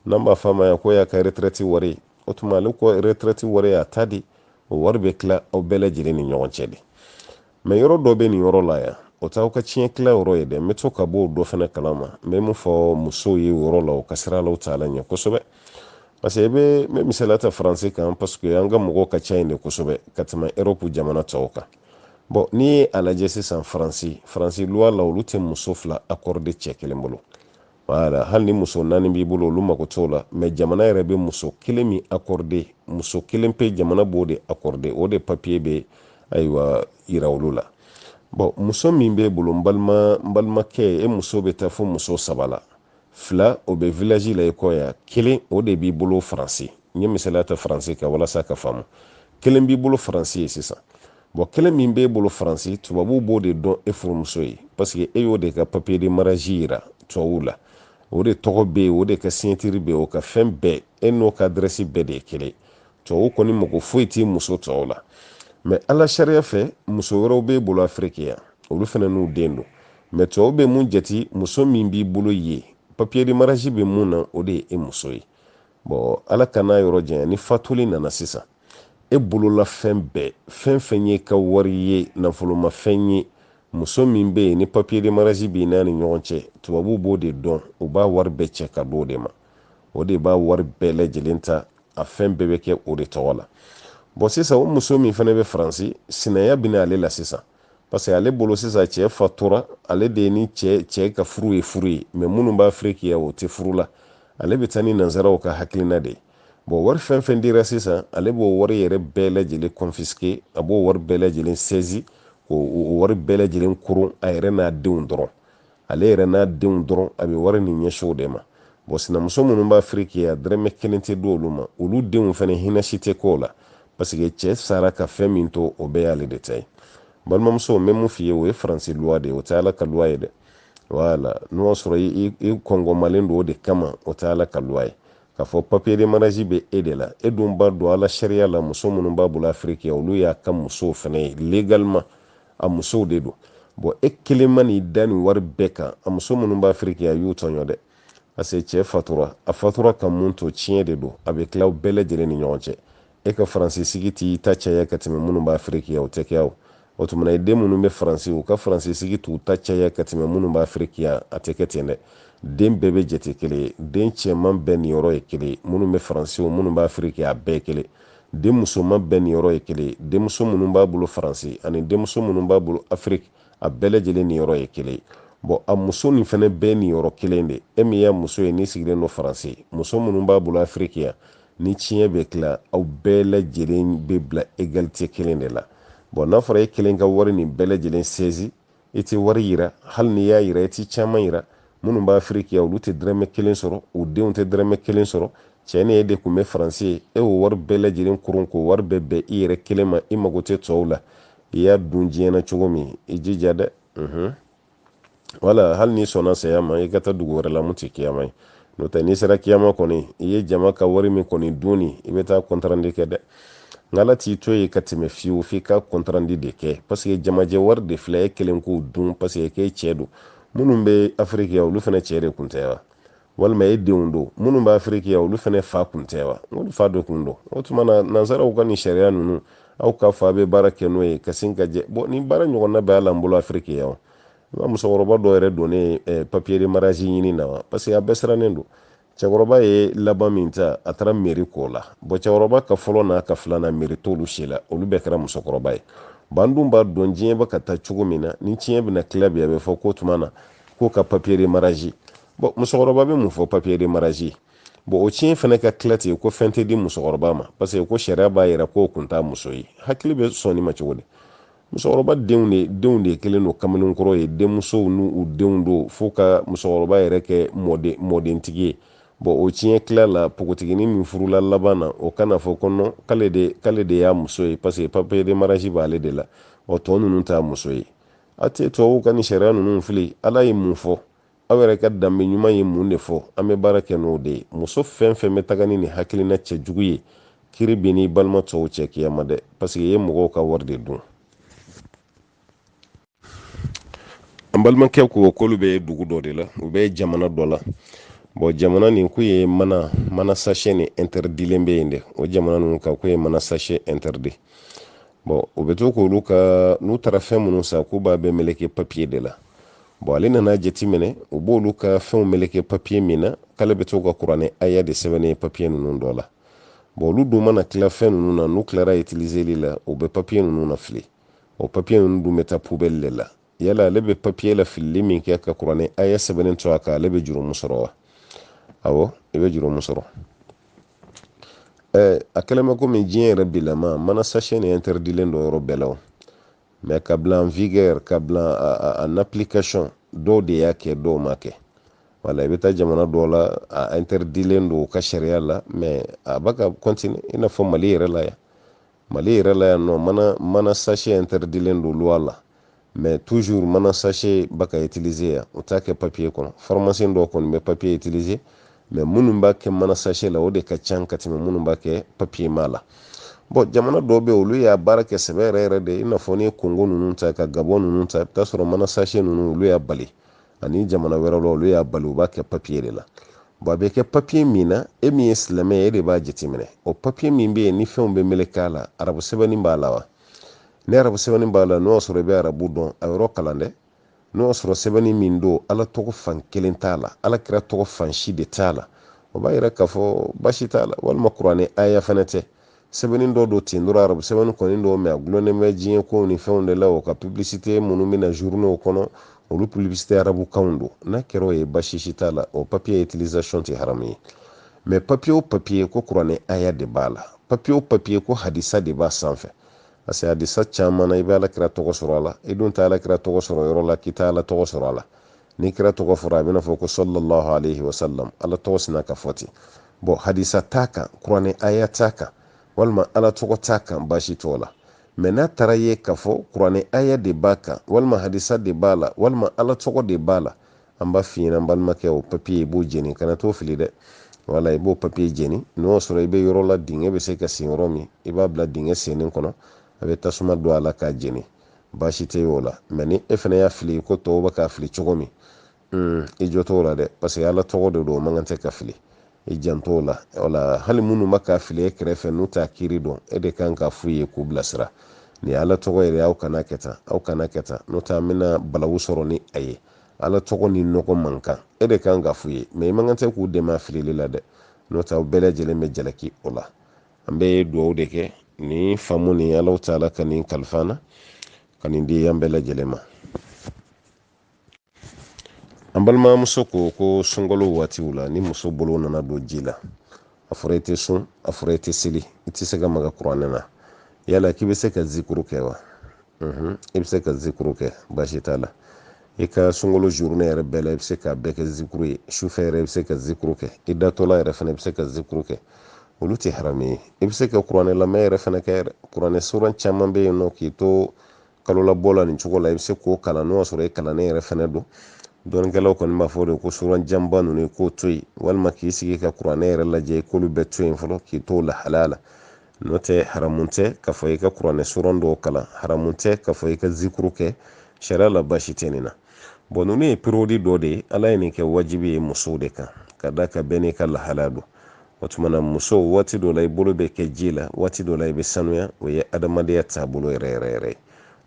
n'an b'a fɔ a ma yan ko y'a ka retraite wari o tuma ale ka retraite wari y'a ta de ye o wari bɛ tila aw bɛɛ lajɛlen ni ɲɔgɔn cɛ de mɛ yɔrɔ dɔ bɛ nin yɔrɔ la yan o t'aw ka tiɲɛ tila yɔrɔ ye dɛ n bɛ to ka bɔ o dɔ fana kalama n bɛ mun fɔ musow ye yɔrɔ la u ka siran alahu taala ɲɛ kosɛbɛ parce que i bɛ n bɛ misaliya ta faransi kan parce que an ka mɔgɔw ka ca yen de kosɛbɛ ka tɛmɛ Europe jamana tɔw kan bon n'i ye a lajɛ sisan faransi faransi loi la olu tɛ muso fila accordé cɛ kelen bolo wala hali ni muso naani b'i bolo olu mako t'o la mɛ jamana yɛrɛ bɛ muso kelen min accordé muso kelen pe jamana b'o de accordé o de papier bɛ ayiwa yira olu la bon muso min b'e bolo n balima n balimakɛ e muso bɛ taa fo muso saba la fila o bɛ village la i kɔ yan kelen o de b'i bolo faransi n ye misaliya ta faransi kan walasa ka faamu kelen b'i bolo faransi yen sisan bon kelen min b'e bolo faransi tubabuw b'o de dɔn e furumuso ye parce que e y'o de ka papier de mariage yira tubabuw la o de tɔgɔ bɛ yen o de ka signature bɛ yen o ka fɛn bɛɛ e n'o ka adrɛsi bɛɛ de ye kelen tubabuw kɔni mako foyi t'i muso tɔw la mɛ ala sariya fɛ muso wɛrɛw b'e bolo afiriki yan olu fana n'u den don mɛ tubabu bɛ mun jate muso min b'i bolo yen papier de mariage bɛ mun na o de ye e muso ye bon ala k'an n'a yɔrɔ janya ni fatuli nana sisan e bolola fɛn bɛɛ fɛn fɛn y'e ka wari ye nafolomafɛn ye muso min bɛ yen ni papier de mariage b'i n'a ni ɲɔgɔn cɛ tubabuw b'o de dɔn u b'a wari bɛɛ cɛ ka d'o de ma o de b'a wari bɛɛ lajɛlen ta a fɛn bɛɛ bɛ kɛ o de tɔgɔ la bon sisan o muso min fana bɛ faransi sinaya bɛ na ale la sisan parce que ale bolo sisan cɛ fatura ale de ye ni cɛ cɛ ka furu ye furu ye mɛ minnu bɛ afiriki o tɛ furu la ale bɛ taa ni nanzaraw ka hakilina de ye bɔn wari fɛn fɛn dira sisan ale b'o wari yɛrɛ bɛɛ lajɛlen kɔnfiske a b'o wari bɛɛ lajɛlen sɛzi k'o wari bɛɛ lajɛlen koron a yɛrɛ n'a denw dɔrɔn ale yɛrɛ n'a denw dɔrɔn a bɛ wari nin ɲɛsin u de ma bɔn sinamuso minnu bɛ afiriki yan dɛrɛmɛ kelen tɛ di olu ma olu denw fana hinɛ si tɛ k'o la paseke cɛ sara ka fɛn min to o bɛɛ y'ale de ta ye balimamuso n bɛ mun f'i ye o ye faransi luwa de ye o tɛ ala ka luwa ye dɛ wala n'o y'a sɔrɔ i kɔngɔmalen don o de kama o tɛ ala ka luwa ye k'a fɔ papier de mariage bɛ e de la e dun b'a dɔn ala sariya la muso minnu b'a bolo afiriki yan olu y'a ka musow fana ye légalement a musow de don bɔn e kelen man'i da nin wari bɛɛ kan a muso minnu bɛ afiriki yan i y'u tɔɲɔ dɛ parce que cɛ fatura a fatura ka mun to tiɲɛ de don a bɛ tila aw bɛɛ lajɛlen ni ɲɔgɔn cɛ e ka faransi sigi t'i ta caya ka tɛmɛ minnu bɛ afiriki yan o tɛ kɛ o o tuma na i den minnu bɛ faransi u ka faransi sigi t'u ta caya ka tɛmɛ minnu bɛ afiriki yan a tɛ kɛ ten dɛ den bɛɛ bɛ jate kelen ye den cɛman bɛɛ niyɔrɔ ye kelen ye minnu bɛ faransi o minnu bɛ afiriki yan a bɛɛ kelen den musoman bɛɛ niyɔrɔ ye kelen ye denmuso minnu b'a bolo faransi ani denmuso minnu b'a bolo afiriki a bɛɛ lajɛlen niyɔrɔ ye kelen ye bɔn a muso nin fɛnɛ bɛɛ niyɔrɔ kelen de e min y'a muso ye n'i sigilen don faransi muso minnu b'a bolo afiriki yan ni tiɲɛ bɛ tila aw bɛɛ lajɛlen bɛ bila egalite kelen de la bɔn n'a fɔra e kelen ka wari nin bɛɛ lajɛlen sɛzi i tɛ wari yira hali n'i y'a yira i tɛ caman yira minnu bɛ afiriki yan olu tɛ dɛrɛmɛ kelen sɔrɔ u denw tɛ dɛrɛmɛ kelen sɔrɔ cɛ ni e de tun bɛ faransi yen e y'o wari bɛɛ lajɛlen koron k'o wari bɛɛ bɛn i yɛrɛ kelen ma i mago tɛ tɔw la i y'a dun diɲɛ na cogo min i jija dɛ wala hali n'i sɔnna saya ma i ka taa dugu wɛrɛ la mun tɛ kiyama ye n'o tɛ n'i sera kiyama kɔni i ye jama ka wari min kɔni dun nin i bɛ taa kɔntarandi kɛ dɛ nka ala t'i to yen ka tɛmɛ fiyewu f'i ka kɔntarandi de kɛ paseke jamajɛ wari de filɛ e kelen k'o dun paseke k'e cɛ don minnu bɛ afiriki yan olu fana cɛ de kun tɛ wa walima e denw don minnu bɛ afiriki yan olu fana fa kun tɛ wa olu fa de kun don o tuma na nansaraw ka nin sariya ninnu aw ka fa bɛ baara kɛ n'o ye ka sin ka jɛ bɔn nin baara ɲɔgɔnna bɛ hali an bolo afiriki yan i b'a musokɔrɔba dɔw yɛrɛ donnen eh, papier de mariage ɲini na wa parce que a bɛɛ sirannen don cɛkɔrɔba ye laban min ta a taara meri k'o la bɔn cɛkɔrɔba ka fɔlɔ n'a ka filanan meri t'olu si la olu bɛɛ kɛra musokɔrɔba ye bɔn an dun b'a dɔn diɲɛ bɛ ka taa cogo min na ni tiɲɛ bɛna tila bi a bɛ fɔ k'o tuma na k'u ka papier de mariage bɔ musokɔrɔba bɛ mun fɔ papier de mariage bɔn o tiɲɛ fana ka tila ten ko fɛn tɛ di musokɔrɔba ma parce que ko sariya b'a yira k'o kun t'a muso ye hakili bɛ sɔn nin ma cogo di musokɔrɔba denw de denw de kelen don kamalenkɔrɔ ye denmusow n'u u denw don fo ka musokɔrɔba yɛrɛ kɛ mɔden mɔdentigi ye bɔn o tiɲɛ tila la npogotiginin min furula laban na o ka n'a fɔ ko nɔn k'ale de k'ale de y'a muso ye parce que papier de mariage b'ale de la ɔ tɔ ninnu t'a muso ye a tɛ tubabuw ka nin sariya ninnu fili ala ye mun fɔ aw yɛrɛ ka danbe ɲuman ye mun de fɔ an bɛ baara kɛ n'o de ye muso fɛn fɛn bɛ taga ni nin hakilina cɛjugu ye kiri bɛ n'i balima tɔw cɛ kiyama dɛ paseke i ye mɔgɔw ka wari de dun an balimakɛ ko k'olu bɛ dugu dɔ de la u bɛ jamana dɔ la bɔn jamana nin k'u ye mana sashe nin intɛrɛdilen bɛ yen dɛ o jamana ninnu ka k'u ye mana sashe intɛrɛdi bɔn o bɛ to k'olu ka n'u taara fɛn minnu san k'u b'a bɛɛ meleke papiye de la bɔn ale nana jateminɛ u b'olu ka fɛnw meleke papiye min na k'ale bɛ to ka kuranɛ aya de sɛbɛnnen ye papiye ninnu dɔ la bɔn olu dun mana tila fɛn ninnu na n'u tilara itiliseli la u bɛ papiye ninnu na fili o papiye ninnu dun bɛ taa pubɛli de la yala ale bɛ papiye la filili min kɛ ka kuranɛ aya sɛbɛnnen to a kan ale bɛ jurumu sɔrɔ wa awɔ i bɛ jurumu sɔrɔ ɛɛ a kɛlen bɛ komi diɲɛ yɛrɛ bilama mana sachet nin interdilen don yɔrɔ bɛɛ la o mais ka bila en vigueur ka bila en application dɔw de y'a kɛ dɔw m'a kɛ wala i bɛ taa jamana dɔw la a interdilen don u ka sariya la mais a bɛ ka continuer i n'a fɔ mali yɛrɛ la yan mali yɛrɛ la yan nɔ mana sachet interdilen don loi la mais toujours mana sachet bɛ ka utiliser yan u t'a kɛ papier kɔnɔ pharmacien dɔw kɔni bɛ papier utiliser mais minnu b'a kɛ mana sachet la o de ka ca ka tɛmɛ minnu b'a kɛ papier ma la bɔn jamana dɔw bɛ olu y'a baara kɛ sɛbɛ yɛrɛ yɛrɛ de i n'a fɔ n'i ye kongo ninnu ta ka gabɔn ninnu ta i bɛ taa sɔrɔ mana sachet ninnu olu y'a bali ani jamana wɛrɛw la olu y'a bali u b'a kɛ papiye de la bɔn a bɛ kɛ papiye min na e min ye silamɛ ye e de b'a jateminɛ o papiye min bɛ yen ni fɛnw bɛ meleke a la arabu sɛbɛnni b'a la wa ni arabu sɛbɛnni b'a la n'o y'a sɔrɔ i bɛ arabu dɔn a yɔrɔ kalan dɛ n'o y'a sɔrɔ sɛbɛnni min don ala tɔgɔ fan kelen t'a la ala kira tɔgɔ fan si de t'a la o b'a yira k'a fɔ baasi t'a la walima kuranɛ aya fana tɛ sɛbɛnni dɔ don ten dɔrɔn arabu sɛbɛnni kɔni don mais a gulonnen bɛ diɲɛ kow ni fɛnw de la o ka publicité minnu bɛ na journaux kɔnɔ olu publicité arabu kanw don n'a kɛra o ye basi si t'a la o papier utilisation tɛ haramu ye mais papier o papier ko kuranɛ aya de b'a la papier o papier ko hadisa de b'a sanfɛ parce que hadisa caman na i bɛ ala kira tɔgɔ sɔrɔ a la i dun tɛ ala kira tɔgɔ sɔrɔ yɔrɔ la k'i tɛ ala tɔgɔ sɔrɔ a la ni kira tɔgɔ fɔra a bɛna fɔ ko sallallahu alaihi wasallam ala tɔgɔ sina ka fɔ ten bɔn hadisa t'a kan kuranɛ aya t'a kan walima ala tɔgɔ t'a kan baasi t'o la mɛ n'a taara ye k'a fɔ kuranɛ aya de b'a kan walima hadisa de b'a la walima ala tɔgɔ de b'a la an b'a f'i ɲɛna n balimakɛ o papiye i b'o jeni kana t'o fili dɛ wala i b'o papiye jeni n'o y'a sɔrɔ i bɛ yɔrɔ la dingɛ bɛ se ka sen yɔrɔ min i b'a bila dingɛ sennen kɔnɔ a bɛ tasuma don a la k'a jeni baasi tɛ o la mais ni e fana y'a fili ko tɔw bɛ k'a fili cogo min hmm, i jo t'o la dɛ parce que ala tɔgɔ de don o man kan tɛ ka fili i jant'o la wala hali minnu bɛ k'a fili e kɛrɛfɛ n'u t'a kiiri dɔn e de kan ka f'u ye k'u bilasira nin ala tɔgɔ yɛrɛ aw kana kɛ tan aw kana kɛ tan n'o tɛ an bɛna balawu sɔrɔ ni a ye ala tɔgɔ ni nɔgɔ man kan e de kan ka f'u ye mais i man kan tɛ k'u dɛmɛ a filili la dɛ n'o tɛ aw bɛɛ lajɛlen bɛ jalaki o la an bɛ dugawu de kɛ nin faamu nin ala taala ka nin kalif'an na ka nin di an bɛɛ lajɛlen ma an balimamuso ko ko sunkalo waatiw la ni muso bolo nana don ji la a fɔra i tɛ sun a fɔra i tɛ seli i tɛ se ka maga kuranɛ na yala k'i bɛ se ka zikuru kɛ wa i bɛ se ka zikuru kɛ baasi t'a la i ka sunkalo journée yɛrɛ bɛɛ la i bɛ se k'a bɛɛ kɛ zikuru ye sufɛ yɛrɛ i bɛ se ka zikuru kɛ i datɔla yɛrɛ fana i bɛ se ka zikuru kɛ olu tɛ haramu ye i bɛ se ka kuranɛ lamɛn yɛrɛ fana kɛ yɛrɛ kuranɛ suran caman bɛ yen nɔ k'i to kalo labɔ la nin cogo la i bɛ se k'o kalan n'o y'a sɔrɔ i kalannen yɛrɛ fana don dɔnnikɛlaw kɔni b'a fɔ de ko suran janba ninnu i k'o to yen walima k'i sigi ka kuranɛ yɛrɛ lajɛ i k'olu bɛɛ to yen fɔlɔ k'i to lahalaya la n'o tɛ haramu tɛ k'a fɔ i ka kuranɛ suran dɔw kalan haramu tɛ k'a fɔ i ka zikuru kɛ sariya la baasi tɛ nin na bon ninnu ye période dɔ de ye ala ye nin kɛ wajibi ye musow de kan ka d'a kan bɛɛ n'i ka lahalaya don o tuma na muso waati dɔ la i bolo bɛ kɛ ji la waati dɔ la i bɛ sanuya o ye adamadenya taabolo yɛrɛ yɛrɛ yɛrɛ ye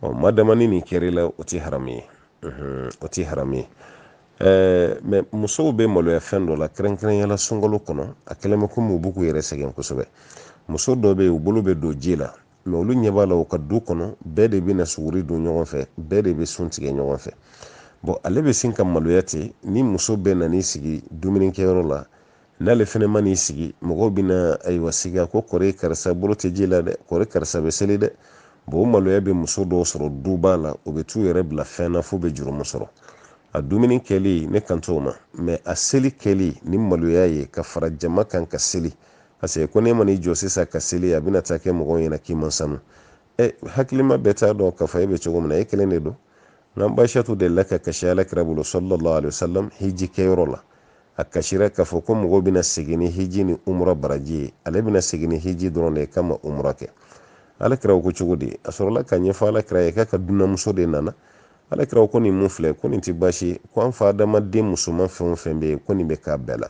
ɔ madama ni nin kɛra i la o tɛ haramu ye o tɛ haramu ye ɛɛ mais musow bɛ maloya fɛn dɔ la kɛrɛnkɛrɛnyala sunkalo kɔnɔ a kɛlen bɛ komi u b'u k'u yɛrɛ sɛgɛn kosɛbɛ muso dɔ bɛ yen u bolo bɛ don ji la mais olu ɲɛ b'a la u ka du kɔnɔ bɛɛ de bɛ na suguri dun ɲɔgɔn fɛ bɛɛ de bɛ sun tigɛ ɲɔgɔn fɛ bon ale bɛ sin ka maloya ten ni muso bɛɛ nan'i sigi dumunikɛyɔrɔ la n'ale fɛnɛ ma n'i sigi mɔgɔw bɛna ayiwa siga ko kori karisa bolo tɛ ji la dɛ kori karisa bɛ seli dɛ bon o maloya bɛ muso dɔw sɔrɔ duba la u bɛ t'u yɛrɛ bila fɛn na f'u bɛ jurumu sɔrɔ a dumuni kɛli ne kan t'o ma mais a seli kɛli ni maloya ye ka fara jama kan ka seli parce que ko n'e ma n'i jɔ sisan ka seli a bɛna taa kɛ mɔgɔw ɲɛna k'i man sanu ɛ hakilima bɛɛ t'a dɔn k'a fɔ e bɛ cogo min na e kelen de don n'an ba aisatu delila ka kasi alakira bolo sallallahu alaihi wasallam hiji kɛyɔrɔ la a kasira k'a fɔ ko mɔgɔw bɛna segin ni hiji ni umura baraji ye ale bɛna segin ni hiji dɔrɔn de ye k'a ma umura kɛ alakira ko cogo di a sɔrɔla k'a ɲɛfɔ alakira ye k'a ka dunanmuso de nana alakira ko nin mun filɛ ko nin tɛ baasi ye ko an fa adama denmusoman fɛn o fɛn bɛ yen ko nin bɛ k'a bɛɛ la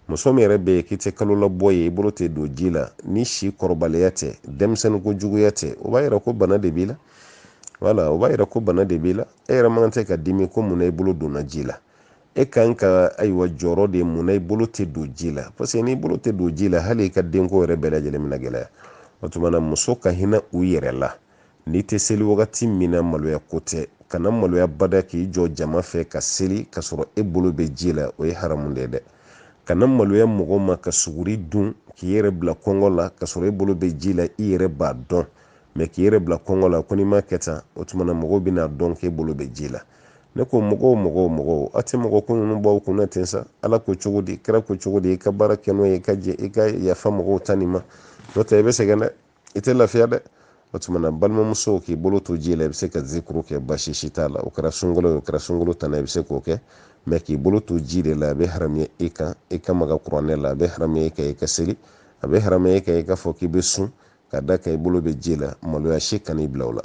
muso min yɛrɛ bɛ yen k'i tɛ kalo labɔ ye i bolo tɛ don ji la ni si kɔrɔbaliya tɛ denmisɛnnin ko juguya tɛ o b'a yira ko bana de b'i la wala o b'a yira ko bana de b'i la e yɛrɛ man kan tɛ ka dimi ko mun na i bolo donna ji la e kan ka ayiwa jɔrɔ de mun na i bolo tɛ don ji la parce que n'i bolo tɛ don ji la hali i ka denko yɛrɛ bɛɛ lajɛlen bɛna gɛlɛya o tuma na musow ka hinɛ u yɛrɛ la n'i tɛ seli wagati min na maloya ko tɛ kana maloya bada k'i jɔ jama fɛ ka seli ka sɔrɔ e bolo bɛ ji la o ye haramu de ye dɛ kana maloya mɔgɔ ma ka suguri dun k'i yɛrɛ bila kɔngɔ la ka sɔrɔ e bolo bɛ ji la i yɛrɛ b'a dɔn mais k'i yɛrɛ bila kɔngɔ la ko n'i m'a kɛ tan o tuma na mɔgɔw bɛna dɔn k'e bolo bɛ ji la ne ko mɔgɔw mɔgɔw mɔgɔw a tɛ mɔgɔ ko ninnu b'aw kunna ten sa ala ko cogo di kira ko cogo di i ka baara kɛ n'o ye i ka jɛ i ka yafa mɔgɔw ta nin ma n'o tɛ i bɛ sɛgɛn dɛ i tɛ lafiya dɛ o tuma na balimamusow k'i bolo to ji la i bɛ se ka zikuru kɛ basi si t'a la o kɛra sunkalo ye o kɛra sunkalo tana i bɛ se k'o kɛ mais k'i bolo to ji de la a bɛ haramuya i kan i ka maga kuranɛ la a bɛ haramuya i kan i ka seli a bɛ haramuya i kan i k'a fɔ k'i bɛ sun ka da kan i bolo bɛ ji la maloya si kan'i bila o la